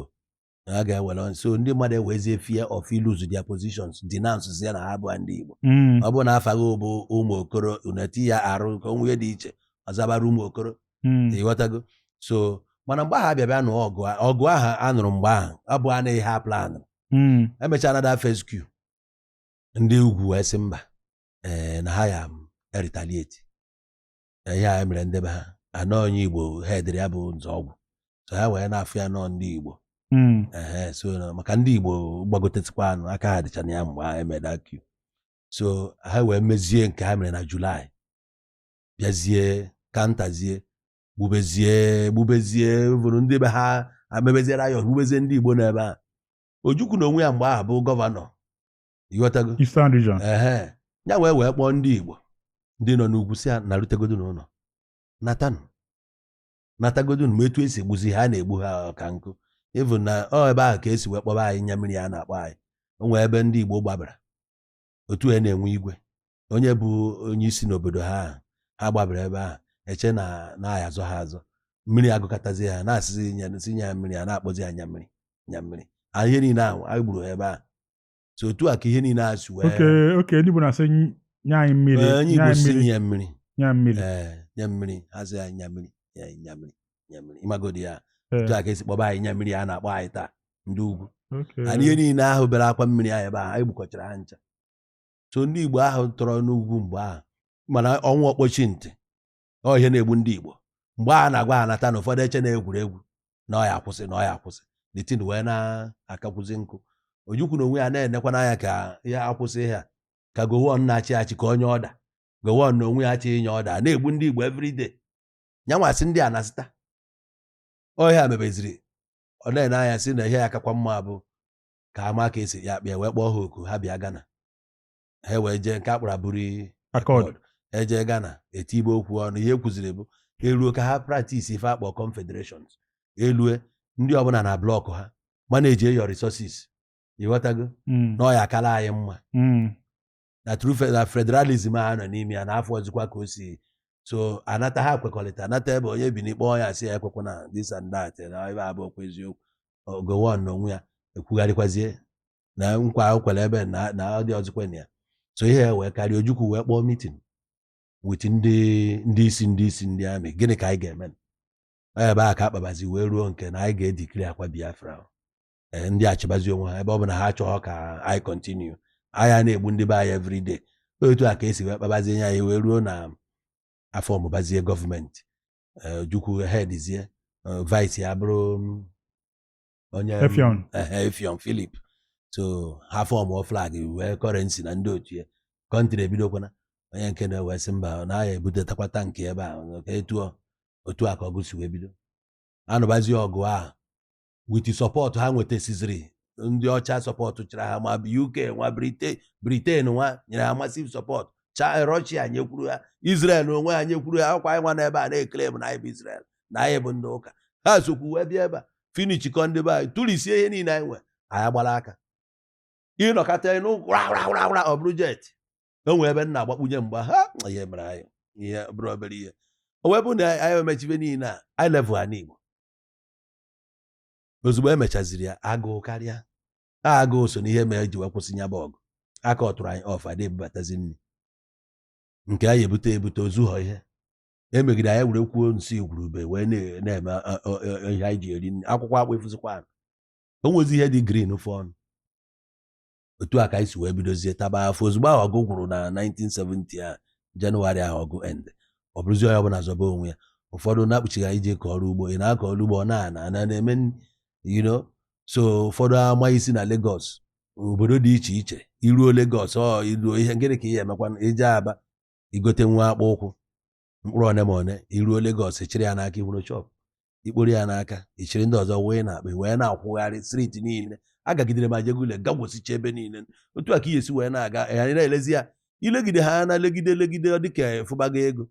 na a ga-ewere on- so ndị mmadụ ewezie fear of lose their positions denounce ya na ha bụ ndị Igbo Mm. ọ bụrụ na afa gị bụ Ụmụokoro unu etinye R ka o wee dị iche ọ zaba Rumuokoro Mm. ịghọtago so mana mgbe ahụ abịa bịa nụọ ọgụ a- ọgụ ahụ a nụrụ mgbe ahụ ọ bụghị na ha plan Mm. emechara the first coup ndị ugwu wee sị mba ee na ha ya retaliate na ihe a mere ndị be ha na ọ onye Igbo headiri ya bụ Nzeogwu so ha wee na-afụ ya na ọ ndị Igbo hmm. so maka ndị Igbo gbagotesikwanụ aka ha dịcha na ya mgbe ha eme the coup so ha wee mezie nke ha mere na Julaị bịazie counterzie gbubezie gbubezie vụrụ ndị be ha amebezie riot gbubezie ndị Igbo n'ebe a Ojukwu na onwe ya mgbe ahụ bụ gọvanọ ịghọtago Eastern region ehe ya wee wee kpọọ ndị igbo ndị nọ n'ugwu sị ha narutegodu n'ụlọ natanụ natagodu ma etu esi egbuzi ha a na-egbu ha ka nkụ even na ọ ebe ahụ ka esi wee kpọba anyị nya mmiri a na-akpọ anyị o nwee ebe ndị igbo gbabara otu a na-enwe igwe onye bụ onye isi n'obodo ha ahụ, ha gbabara ebe ahụ eche na ọ ya-azọ ha azọ mmiri agụkatazi ha na-asịzi nya si nya mmiri a na-akpọzi ha nya mmiri nya mmiri anyị ihe niile ahụ anyị gburu ha ebe ahụ so otu a ka ihe niile a si wee oke oke ndị Igbo na-asị ny- nye anyị mmiri Ee, onye nye Igbo anyị si mmiri nye mmiri nye anyị mmiri ee nye mmiri ha sị anyị nye mmiri nye anyị nye mmiri nye mmiri ịmagodi ya Ee, otu a ka esi kpọba anyị nya mmiri a na-akpọ anyị taa ndị ugwu oke. na ihe niile ahụ bere akwa mmiri anyị ebe ahụ anyị gbukọchara ha ncha so ndị Igbo ahụ tọrọ n'ugwu mgbe ahụ mana o nwee ọkpọchi ntị ọ ihe na-egbu ndị Igbo mgbe a na-agwa ha nata na ụfọdụ eche na egwuregwu na ọ ya-akwụsị na ọ ya-akwụsị the thing wee na-akakwuzi njọ Ojukwu na onwe ya na-enekwa anya ka ọ ya-akwụsị ihe a ka Gowon na-achị achị ka o nye ọda Gowon na onwe ya achọghị inye ọda na-egbu ndị Igbo everyday nya nwa sị ndị a na-asịta ọhịa mebeziri ọ na-ene anya sị na ihe ya-akakwa mma bụ ka a ma ka e si ya kpịa wee kpọọ ha oku ha bịa Ghana ha wee jee nke a kpọrọ Aburi Accord e je Ghana e tibe okwu ọnụ ihe e kwuziri bụ eruo ka ha praktis ife a kpọ confederations elue ndị ọbụla na blọkụ ha manage your resources ị ghọtago hmm. na ọ ya-akala anyị mma hmm. na true na federalism a nọ n'ime ya na afọ ọzọkwa ka o si so a nata ha kwekọrịta a nata ebe onye Bini kpọọ ya sị ya ekwekwana this and that na ebe abụ okwu eziokwu Gowon na onwe ya ekwugharịkwazie na nkwa o kwere ebe na na ọ dịhọzikwa na ya so ihe a wee karịa Ojukwu wee kpọọ meeting with ndị ndị isi ndị isi ndị army gịnị ka anyị ga-eme Ọ ebe a ka a kpabazi wee ruo nke na anyị ga-edeclarekwa Biafra ahụ. Ee, ndị achịbazi onwe ha ebe ọ bụ na ha achọghọ ka anyị kọntinu anyị a na-egbu ndị be anyị everyday otu a ka e si wee kpabazie ihe anyị wee ruo na a fọọmụbazie gọọmenti Ee, Ojukwu headzie vice ya bụrụ mm, onye m- Effiong. ehe, Effiong Philip so ha fọmụọ flag nwee kọrensi na ndị otu ya kọntrị ebidokwana onye nke na-ewe sị mba na ya ebutetakwa tankị ebe a ka etu ọ- otu a ka ọgụ si wee bido a nụbazi ọgụ ahụ witi sọpọtụ ha nwetasiziri ndị ọcha sọpọtụchara ha ma UK nwa Briten Briten nwa nyere ha masiv sọpọtụ cha Rọshia nyekwuru ha Israel onwe ha nyekwuru ha ọkwa anyị nwa n'ebe a na-eclaim na anyị bụ Israel na anyị bụ ndị ụka ha sokwu wee bịa ebe a finishikọ ndị be anyị tụrisie ihe niile anyị nwe anyị gbara aka ị nọkata ị nụ gwara ọ bụrụ jet o nwee ebe ị na-agbakpunye mgbe ahụ ihe mere anyị ihe bụrụ obere ihe o wee bụ na anyị emechibe niile a anyị level ha n'Igbo ozugbo e mechaziri ya agụụ karịa a agụụ so n'ihe mere ji wee kwụsị nya bụ ọgụ a kọọtụrụ anyị ọf a dị ebubatazi nri nke anyị ebute ebute ozughọ ihe emegide anyị werekwuo nsị igwurube wee na- na-eme a- a- a- ihe anyị ji eri nri. akwụkwọ akpụ efuzikwa anụ o nwezi ihe dị green fụ ọnụ otu a ka anyị si wee bidozie taba afụfụ ozugbo ahụ ọgụ gwụrụ na 1970 a Jenụwarị ahụ ọgụ end ọ bụrụzi onye ọbụla zọba onwe ya ụfọdụ na-akpuchighị anyị je kọọ ọrụ ugbo ị na-akọ ọrụ ugbo ọ na-ana ana na-eme nri, you know so ụfọdụ ama isi na Lagos obodo dị iche iche i ruo Lagos ọ i ruo ihe gịnị ka ihe emekwa i je Aba igote nwa akpụ ụkwụ mkpụrụ one ma one iruo Lagos chịrị ya n'aka iwuru shop ikporo ya n'aka ichiri ndị ọzọ wee n'akpa wee na-akwụgharị street niile agagidere ma Ajegunle gagwosicha ebe niile otu a ka ihe si wee na-aga anyị na-elezi ya ilegide ha na legide legide ọ dịka ị fụbago ego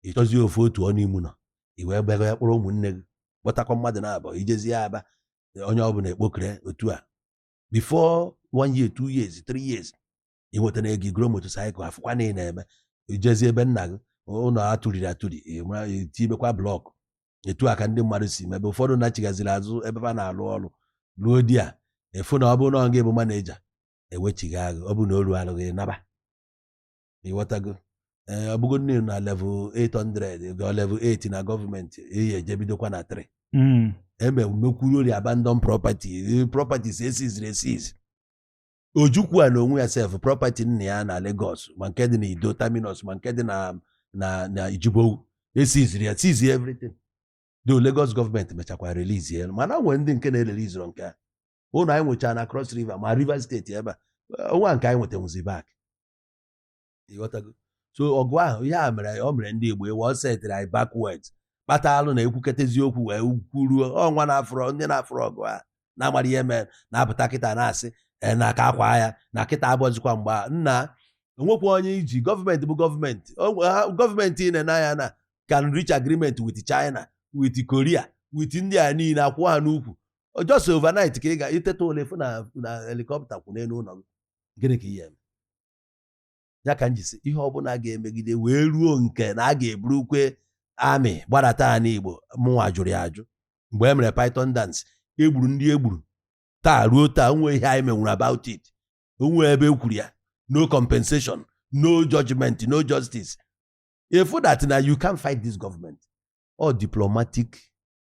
ịchọzi ofu otu ọnụ ime ụnọ i wee gbago ya kpọrọ ụmụnne gị kpọtakwa mmadụ na abụọ ijezie Aba onye ọbụla ekpokere otu a before one year two years three years ị nwetara ego igoro motosaịkụl afụkwa na ị na-eme ijezi ebe nna gị ụlọ atụriri atụri tibekwa blọkụ etu a ka ndị mmadụ si mebe ụfọdụ nachighaziri azụ ebe ha na-alụ ọrụ ruo there a fụ na ọ bụrụ na ọ ga-abụ manager ewechighị agụ ọ bụ na o ruo alụghị naba ịghọtago ee ọ bụgo nne na level 800 ga level 8 na gọọmenti eyi ejebidokwa na 3 eme mekwuru ori abandon property properties esiziri esiz Ojukwu nwa na onwe ya sef property nna ya na Lagos ma nke dị na Iddo Terminus ma nke dị na na na Jibowu esiziri ya seize everything though Lagos gọọmenti mechakwa release ya mana nwere ndị nke na-ereliziro nke a ụnọ anyị nwechara na Cross River ma Rivers State ebe a onwe a nke anyị nwetanwuzi back ịghọtago so ọgụ ahụ ihe a mere ọ mere ndị Igbo ịwa ọ setịrị anyị backwards kpata lụ na e kwuketa eziokwu wee kwuruo ọnwa na-afụrọ ndị na-afụrọ ọgụ a na-amarọ ihe mere na-apụta kịta na-asị e, na aka akwa ya na kịta abụrọzikwa mgbe na onwekwa onye iji gọọmenti bụ gọọmenti gọọmenti ị na-ene anya na can reach agreement with China with Korea with ndị a niile akwụ ha n'ukwu just overnight ka ị ga-eteta ụla fụ na helicopter kwụ n'elu ụlọ gị gịnị ka ihe ya ka m ji sị ihe ọbụla a ga-emegide wee ruo nke na a ga-eburukwa army gbadata anị Igbo mụnwa jụrụ ya ajụ mgbe e mere python dance egburu ndị egburu taa ruo taa o nwe ihe anyị menwuru about it o nwe ebe e kwuru ya no compensation no judgment no justice ị fụ that na you can't fight this government ọ diplomatic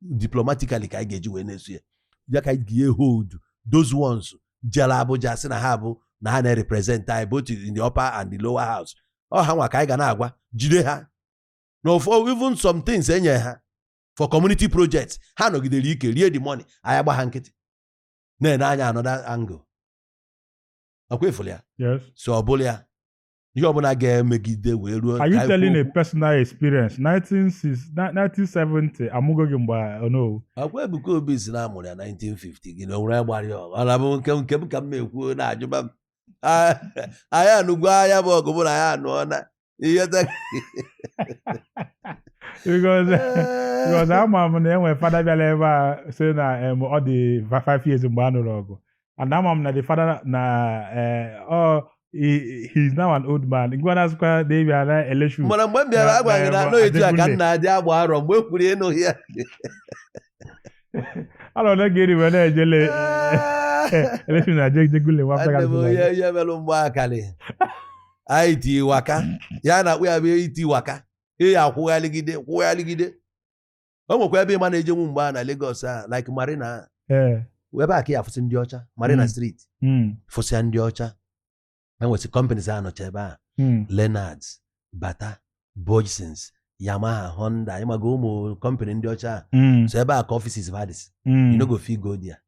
diplomatically ka anyị ga-eji wee na-eso ya ya ka anyị ga-ehold those ones jere Abuja sị na ha bụ na ha na-represent anyị both in the upper and the lower house ọ ha nwa ka anyị ga na-agwa jide ha na even some things e nye ha for community projects ha nọgidere ike rie the money anyị agba ha nkịtị na-ene anya another angle ọkwa ya so ọ bụla ya ihe ọbụla ga-emegide wee ruo are you telling a personal experience 1970 amụgo gị mgbe Onowu ọkwa Ebuka Obi sị na amụrụ ya 1950 gị na onwere ya gbara ya ọ na-abụ nke nke m ka m na-ekwu na-ajụba m Ah, anyị anụgo aya bụ ọgụ mụ na ya anụọ na ihe ta- because because ama m na e nwe Father bịara ebe a sị na em, ọ dị va- five years mgbe a nụrụ ọgụ and ama m na the father na eh, ọ he he is now an old man ngwa na-asụkwa na ebi ana election mana mgbe m bịara agwa gị na a nọ etu a ka m na-adị agba arọ mgbe m kwuru ịnụ ya anọ na gịnị wee na-ejele election na jegule nwa afọ Nwanne m onye gara ihe melụ mgbe akalị anyị ti waka ya na-akpụ ya bụ iti waka ị ya akwụghaligide kwụghaligide o nwekwa ebe ị ma na-ejenwu mgbe a na Lagos a like Marina a. ee ebe a ka ị ya-afụsị ndị ọcha Marina Mm. Street mm, fụsịa ndị ọcha enwesị companies a nọcha ebe a mm, Lennards Bata Bhojsons Yamaha Honda ị maga ụmụ company ndị ọcha a. mm, so ebe a ka offices va dịsị mm. you no go fit go there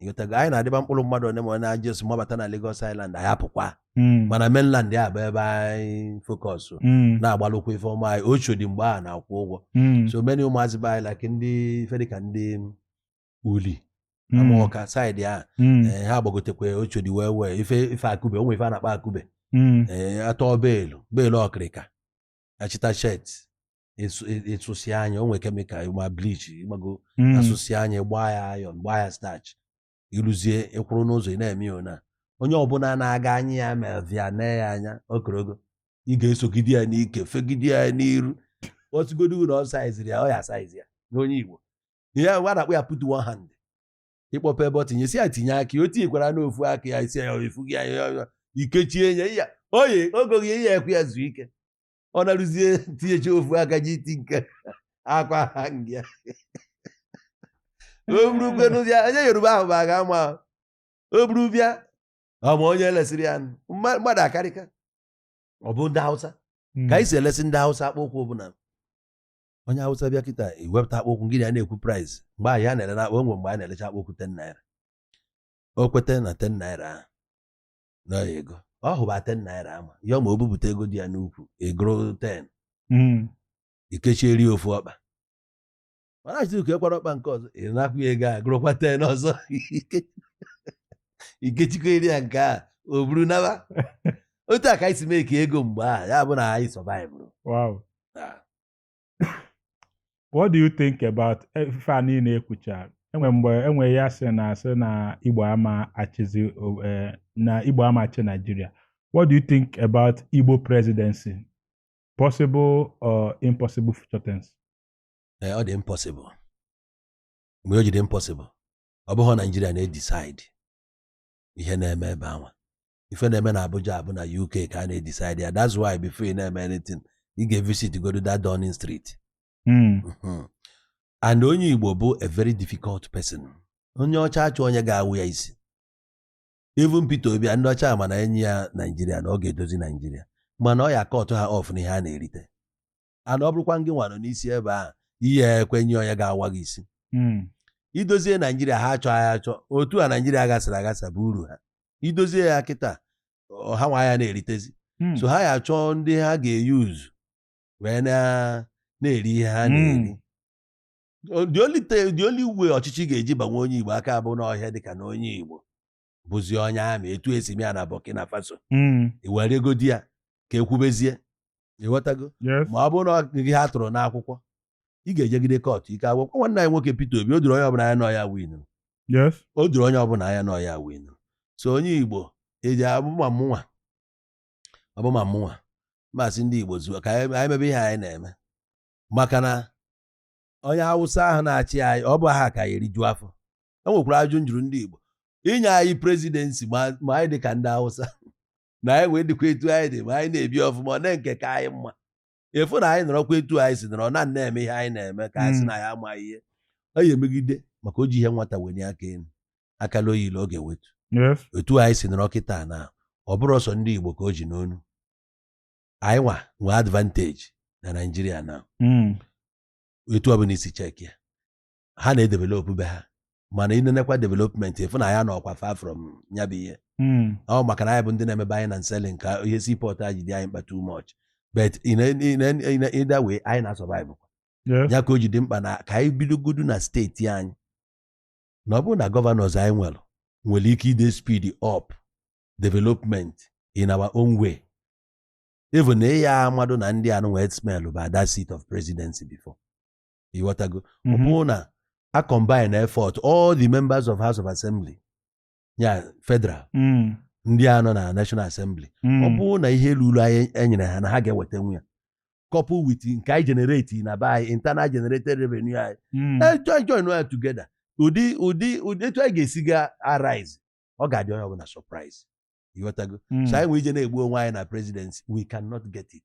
ị ghọtago anyị na-adịba mkpụrụ mmadụ one ma ọ na-ajị osu mabata na Lagos Island anyị apụkwa Mm. mana mainland ya bụ ebe anyị focus Mm. na-agbalụkwa ife ọma anyị Oshodi mgbe a na-akwụ ụgwọ Mm. so many ụmụazị be anyị like ndị ife dịka ndị Uli Mm. Amorka side a Mm. ee, ha gbagotekwa Oshodi wee wee ife ife akube o nwe ife a na-akpọ akube Mm. ee, atọ beelu beelu ọkịrịka achịta shirt ị sụsịa e, e nya o nwe chemical ma bleach ị gbago hmm. a sụsịa nya gbaa ya iron gbaa ya starch ị rụzie ị kwụrụ n'ụzọ ị na-eme ya na onye ọbụla na-aga anya ya ma via na ya anya okorogo ị ga-esogide ya n'ike fegide ya n'iru otugodo ụlọ ọ saiziri ya ọ ya saizi ya n'onye Igbo ihe a na-akpọ ya put one hand ị kpọpe ebe ọ tinye isi ya tinye aka o tinyekwara n'ofu aka ya isi ya efu gị ya ikechie ya ya oye ogo gị ya ekwe ya zuo ike ọ naruzie tinyecha ofu aka ji iti nke akwa ha nga o burukwe n'ụzọ onye yoruba ahụ bụ aga ama o buru bịa ọ ma onye lesịrị ya mmadụ akarịka ọ bụ ndị hausa hmm. ka anyị si elesi ndị hausa akpụ ụkwụ ọ bụ na onye hausa bịa kịta i wepụta akpụ ụkwụ gị na ya na-ekwu price mgbe ahụ ya na-ele na akpụ e nwe mgbe a na-elecha akpụ ụkwụ ten naira o kweta na ten naira ahụ na ego ọ hụba 10 naira ama ya ma o bupụta ego dị ya n'ukwu a gụrụ 10 Mm. i kechiere ofu ọkpa ma na-achọzi ikekwara ọkpa nke ọzọ ị na-akwụ ya ego a gụrụkwa 10 ọzọ Ike- i kechikwaara ya nke a o buru naba otu a ka anyị si make ego mgbe a ya bụ na anyị survivụrụ Wow. what do you think about ife a niile ekwucha enwe mgbe enwe ya sị na a sị na igbo ama achịzi o- eh, na igbo ama achị naijiria what do you think about igbo presidency possible or impossible future tense Ee, ọ dị impossible mgbe o ji dị impossible ọ bụghị naijiria na-edecide ihe na-eme ebe anwa ife na-eme na Abuja bụ na UK ka a na-edecide ya that's why before ị na-eme anything ị ga-evisit godu that Downing Street hmm. mhm. and onye Igbo bụ a very difficult person onye ọcha achọ onye ga-awa ya isi even Peter Obi ndị ọcha ma na e nye ya Naijiria na ọ ga-edozi Naijiria mana ọ ya-akọtụ ha off na ihe a na-erite and ọ bụrụkwa ngị nwa nọ n'isi ebe ahụ ị ya-ekwenye onye ga-awa gị isi hmm. idozie naijiria ha achọ ya achọ otu a naijiria gasịrị agasa bụ uru ha idozie ya kịta ha nwa ya na-eritezi hmm. so ha ya achọ ndị ha ga-eyuzu wee na-eri ihe ha hmm. na-eri the only way ọchịchị ga-eji banwe onye igbo aka bụ n'ọhịa dịka na onye igbo bụzi onye army etu e si mee ya na Burkina Faso mm. i weregodi ya ka e kwubezie ịghọtago ma ọ bụrụ na gị ha tụrụ n'akwụkwọ ị ga-ejegide court ike agwụ gị nwanne anyị nwoke Peter Obi o doro onye ọbụla anya na ọ ya winu o doro onye ọbụla anya na ọ ya winu so onye Igbo eji abụma mụnwa ọbụma mụnwa m asị ndị Igbo zuo ka anyị mebe ihe anyị na-eme maka na onye Awụsa ahụ na-achị anyị ọ bụ aha ka ya erijuo afọ e nwekwara ajụjụ m jụrụ ndị Igbo inye anyị presidency ma anyị dị ka ndị Hausa na anyị wee dịkwa etu anyị dị ma anyị na-ebi ọfụma olee nke ka anyị mma ị fụ na anyị nọrọkwa etu anyị si nọrọ na na-eme ihe anyị na-eme ka anyị si hmm. na ya amaghị ihe ọ ya emegide maka o ji ihe nwata wenie aka elu akala oyile ọ ga-ewetu etu anyị si nọrọ kịta na ọ bụrọ sọ ndị Igbo ka o ji n'onu anyị nwa nwee advantage na Naijiria na hmm. etu ọbụla i si check ya ha na-edevelop be ha mana ị nenekwa development ị fụ na ya nọkwa far from ya bụ ihe hmm. ọ maka na anyị bụ ndị na-eme buying and selling ka ihe seaport a ji dị anyị mkpa too much but in either way anyị na-survive ya ka o ji dị mkpa na ka anyị bidogodu na steeti anyị na ọ bụrụ na governors anyị nwere nwere ike ide speed up development in our own way even na ịya amadụ na ndị anụ wee smell bụ that seat of presidency before ịghọtago ọ Mhm. bụrụ na a combine effort all the members of house of assembly ya federal Mm. ndị a nọ na national assembly Mm. ọ bụrụ na ihe ruru anyị e nyere ha na ha ga-ewetanwu ya couple with nke anyị generate na be anyị internal generated revenue anyị Mm. Eh, join join ya together ụdị ụdị ụdị etu anyị ga-esi ga arise ọ ga-adị onye ọbụla surprise ịghọtago Mm. so anyị nwa ije na-egbu onwe anyị na presidency we cannot get it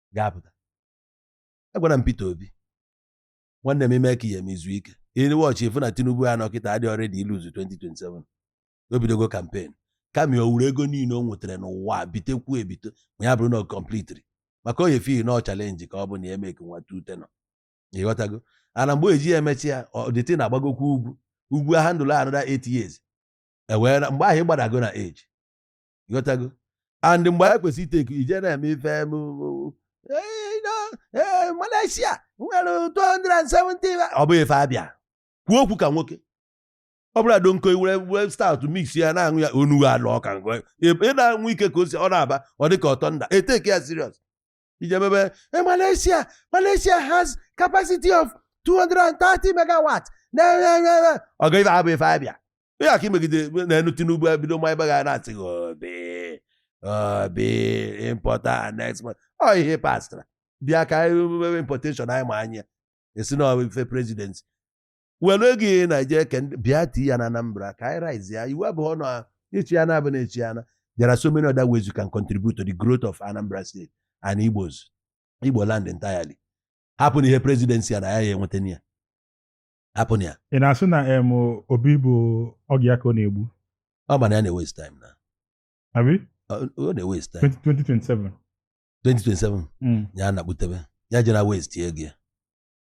ga-apụta agwara m Peter Obi nwanne m ime ka ihe m izu ike ị watch ịfụ na Tinubu ya nọ kịta adị ready ilose 2027 o bidogo campaign kama o wuru ego niile o nwetara n'ụwa bitekwu ebite ma ya bụrụ na ọ kọmplitiri maka onye feel na ọ challenge ka ọ bụ na ya emeke nwa two tenure ịghọtago and mgbe eji ya emechi ya ọdịtị na-agbagokwu ugwu ugwu handle another 8 years ewee mgbe ahụ ị gbadago na age ịghọtago and mgbe anyị kwesịrị itake ije na-eme ife m Malaysia nwere 270 ọ bụ ife abịa kwuo okwu ka nwoke ọ bụla donko were were stout mix ya na-aṅụ ya onughu alụ ọka ị na-aṅụ ike ka o si ọ na-aba ọ dị ka ọtọ nda etake ya serious ije mebe Eh, Malaysia Malaysia has capacity of 230 megawatt na ọ ga ife abụ ife abịa ihe aka imegide na-enu Tinubu ebido ma ebe ga na-asị gị Obi Obi importer and exporter ọ ihe pastara bịa ka anyị mebe importation anyị ma anyị esi na ọ bụ ife presidency were ego ị na-eje eke ndị- bịa tii ya na Anambra ka anyị rise ya iwu abụghị ọnụ a echi ya na abụ na echi ya na there are so many other ways you can contribute to the growth of Anambra State and Igbos Igbo land entirely hapụ na ihe presidency ya na ya ya enweta na ya hapụ na ya ị na-asị na em Obi bụ oge ya ka ọ na-egbu ọ ma na ya na-ewaste time na abi ọ ọ na-ewaste time 2027 2027 Mm. ya na-akpụdebe ya jere waste ego ya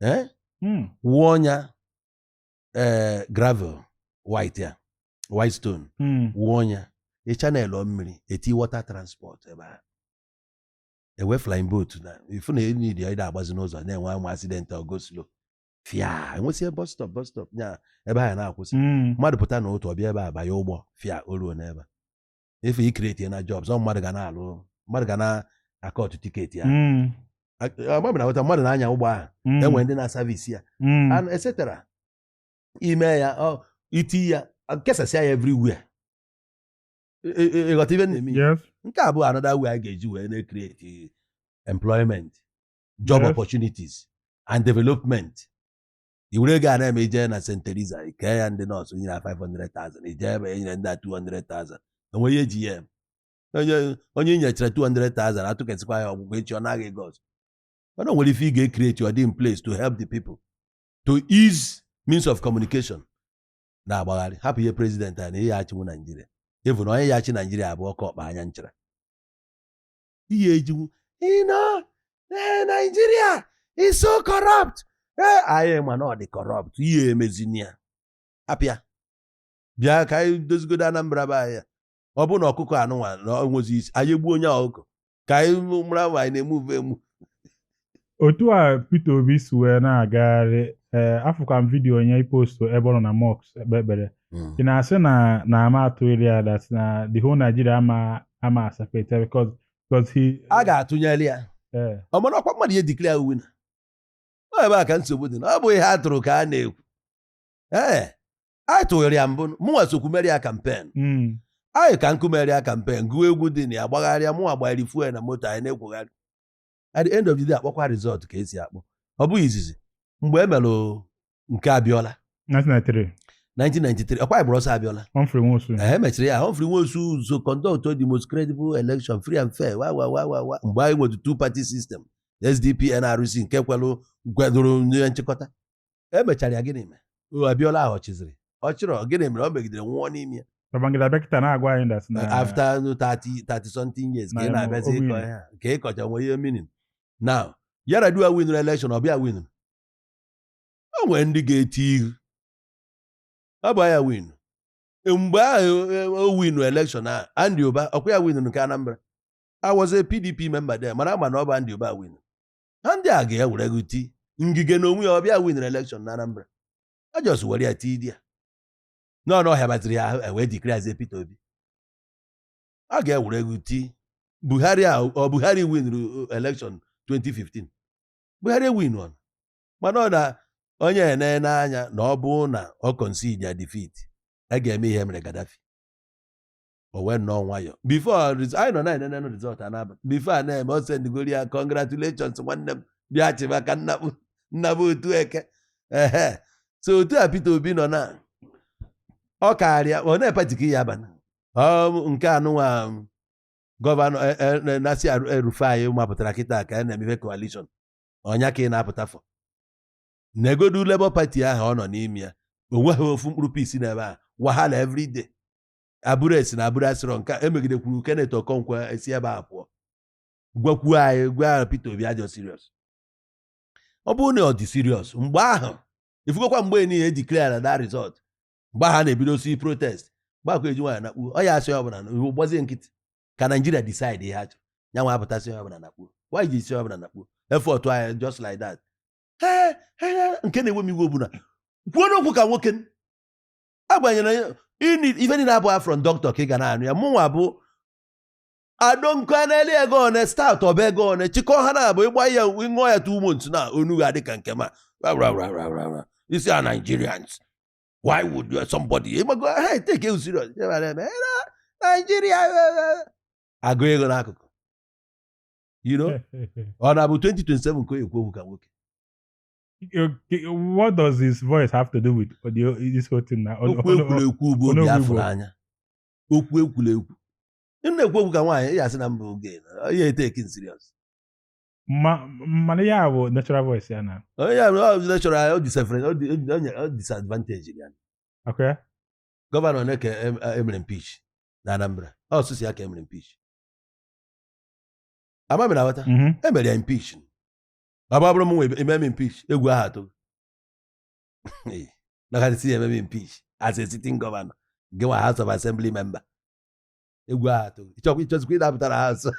eh, Hmm. wụọ nya eh, gravel white ya white stone Hmm. wụọ nya ị channelụọ mmiri etie water transport ebe a ewe flying boat na ifu na enyi dị ịda agbazi n'ụzọ na-enwe ama accident go slow fịa enwesie bus stop bus stop nya ebe ha na-akwụsị Hmm. mmadụ pụta na otu ọ bịa ebe a banye ụgbọ fịa o ruo n'ebe a. efe icreate na jobs ọ mmadụ ga na-alụ mmadụ ga na-acut ticket ya Mm, agbabi na aghọta mmadụ na-anya ụgbọ ahụ mm, enwere ndị na-aservice ya mm, and etc ime ya ọ iti ya kesasịa ya everywhere Ị- ị- ịghọta ife na-eme ya? yes. nke a bụ another way a ga-eji wee na-create employment job Yes. opportunities and development i were ego a na-eme ijee na St. Teresa ikee ya ndị nurse nyere 500,000 ijee ebe enyere ndị a 200,000 enwe ihe e ji ya eme onye onye inyechara 200,000 atụkesịkwa ya ọ gwụgo echi ọ naa gị ego ọzọ mana o nwere ife ị ga-ecreate ọ dị in place to help the people to ease means of communication na-agbagharị hapụ ihe president a na ị ya achịnwu Naijiria even na onye ya achị Naijiria abụọ ka ọkpa anya nchara ihe ejiwu you know ee Nigeria is so corrupt ee anyị ma na ọ dị corrupt ị ya-emezini ya hapụ ya bịa ka anyị dozigodo Anambra be anyị ọ bụ na ọkụkọ anụnwa na onwezi isi anyị egbuo onye ọkụkọ ka anyị mara ma anyị na-emuve emu otu a Peter Obi si wee na-agagharị ee eh, afụkwa m vidiyo onye ipostu ebe ọ nọ na mosque ekpe ekpere hmm. ị na-asị na na ama atụnyere ya that na the whole Nigeria ama ama asupport ya because because he a ga-atụnyere ya eh. mana ọkwa mmadụ ya-edeclare winner ọ ebe a ka nsogbu dị na ọ bụ ihe a tụrụ ka a na-ekwu ee eh, anyị tụnyere ya mbụ mụnwa sokwu mere ya campaign hmm. anyị ka nkụ mere ya campaign gụọ egwu dị na ya gbagharịa mụnwa gbagharị fuel na moto anyị na-ekwugharị at the end of the day akpọkwa result ka esi akpọ ọ bụghị izizi mgbe e mere nke Abiola 1993 1993 ọkwa ịgbụrụ ọsọ Abiola Humphrey Nwosu e mechiri ya Humphrey Nwosu so conduct the most credible election free and fair wa wa wa wa wa mgbe anyị nwere two party system SDP NRC nke kwelụ kwadoro onye nchịkọta emechara ya gịnị mere o Abiola ahụ ọ chịzịrị ọ chịrọ gịnị mere o megidere nwụọ n'ime ya Babangida bịa kịta na-agwa anyị that na after 30 30 something years ka ị Na- na-abịazi o ịkọ win. ihe a, ka ị kọcha nwee ihe meaning now Yar'Adua winụrụ election ọ bụ ya winụrụ o nwere ndị ga-eti ihu ọ bụ ya win mgbe ahụ e, o winu election a Andy Uba ọkwa ya winụrụ nke Anambra I was a PDP member there mana ama na ọ bụ Andy Uba win ha ndị a gaa wee rig ti Ngige na onwe ya ọ bụ ya winere election na Anambra a just were ya tidy ya n'ọnụ ọhịa batiri ya ahụ e wee declarezie Peter Obi a gaa wee rig ti Buhari a ọ Buhari winere election 2015 Buhari ewinurọ mana ọ na onye ene n'anya na ọ bụ na ọ concede ya defeat a ga-eme ihe mere Gaddafi o wee nọọ nwayọ before anyị nọ na-enenenụ result a na-aba before a na-eme o sendigori ya congratulations nwanne m bịa chịba ka m naba Otuoke ehe so otu a Peter Obi nọ na ọ karịa o nwee party ọ ya-aba na nke anụnwa gọvanọ e, e, Nasir El-Rufai mapụtara kịta ka a na-emefe coalition ọnya ka ị na-apụta fọ negodu Labour Party ahụ ọ nọ n'ime ya onweghị ofu mkpụrụ peace n'ebe a wahala everyday Abure esi na Abure asịrọ nke emegidekwuru Kenneth Okonkwo esi ebe a pụọ gwakwuo anyị gwa ahụ Peter Obi adịrọ serious ọ bụrụ na ọ dị serious mgbe ahụ ị fugokwa mgbe niile e declare that result mgbe ahụ na-ebidosi protest mgbe akụ eji nwaanyị nakpuo ọ ya asị ọbụla na iwu gbazie nkịtị ka Nigeria decide ihe ha chọrọ ya nwa apụta sị ọbụla nakpuo why o ji sị ọbụla nakpuo effort anyị just like that nke na-ewe m iwe bụ na kwuonụ okwu ka nwoke agbanyere ife niile abụ from doctor ka ị ga na-anụ ya mụnwa bụ adonkaneli ego one start ọba ego one chịkọ ha na-abụ ịgba ya ịṅụọ ya two months na onu ga adị ka nke ma isi a Nigerians why would you somebody ịgbago ha etake you serious Nigeria agụ ego n'akụkụ you know ọ na-abụ 2027 ka o kwuo okwu ka nwoke Okay, what does his voice have to do with all the, this whole thing now? Oh, okwu e kwuru ekwu bụ obi a fụrụ anya okwu e kwuru ekwu m na-ekwu okwu ka nwaanyị ya asị na mba oge ya etake serious mana ya bụ natural voice ya na onye ya natural o disfavour o disadvantage ya okay gọvanọ one ka e mere impeach na Anambra ọ sọsọ ya ka e mere impeach ama mere aghọta e mere ya impeach ọ bụrụ mụnwa e mee m impeach egwu ahụ atụ maka sị e mee m impeach as a sitting governor gị nwa house of assembly member egwu ahụ atụ ịchọkwa ịchọzikwa ịdapụtara ha nso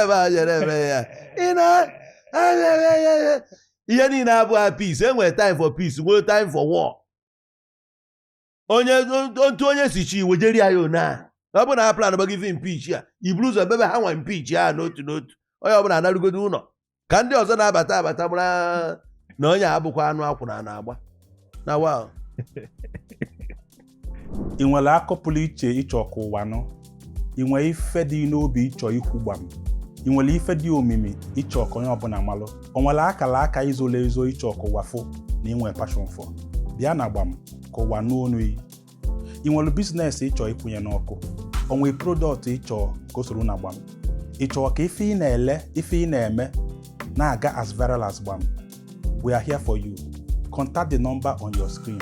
ebe a jere eme ya ị na ihe niile abụghị peace e nwere time for peace nwee time for war onye otu onye si chi iwe jeri ya one a ọ bụrụ na ha plan gbago ife impeach ya i buru ụzọ mebe ha nwa impeach n'otu n'otu onye ọbụla anarugodu ụnọ ka ndị ọzọ na-abata abata mara na onye abụkwa anụ akwụna na-agba na wa ị nwere akọ pụrụ iche ị chọ ka ụwa nụ ị nwere ife dị ị n'obi ị chọ ikwu gbam ị nwere ife dị omimi ị chọ ka onye ọbụna malụ o nwere akala aka i zolu ezo ị chọ ka ụwa fụ na ị nwere passion for bịa na gbam ka ụwa nụ onu ị ị nwere biznes ị chọ ịkwụnye n'ọkụ o nwere prodọkt ị chọ ka o soro na gbam ị chọọ ka ife ị na-ele ife ị na-eme na-aga as viral as gbam we are here for you contact the number on your screen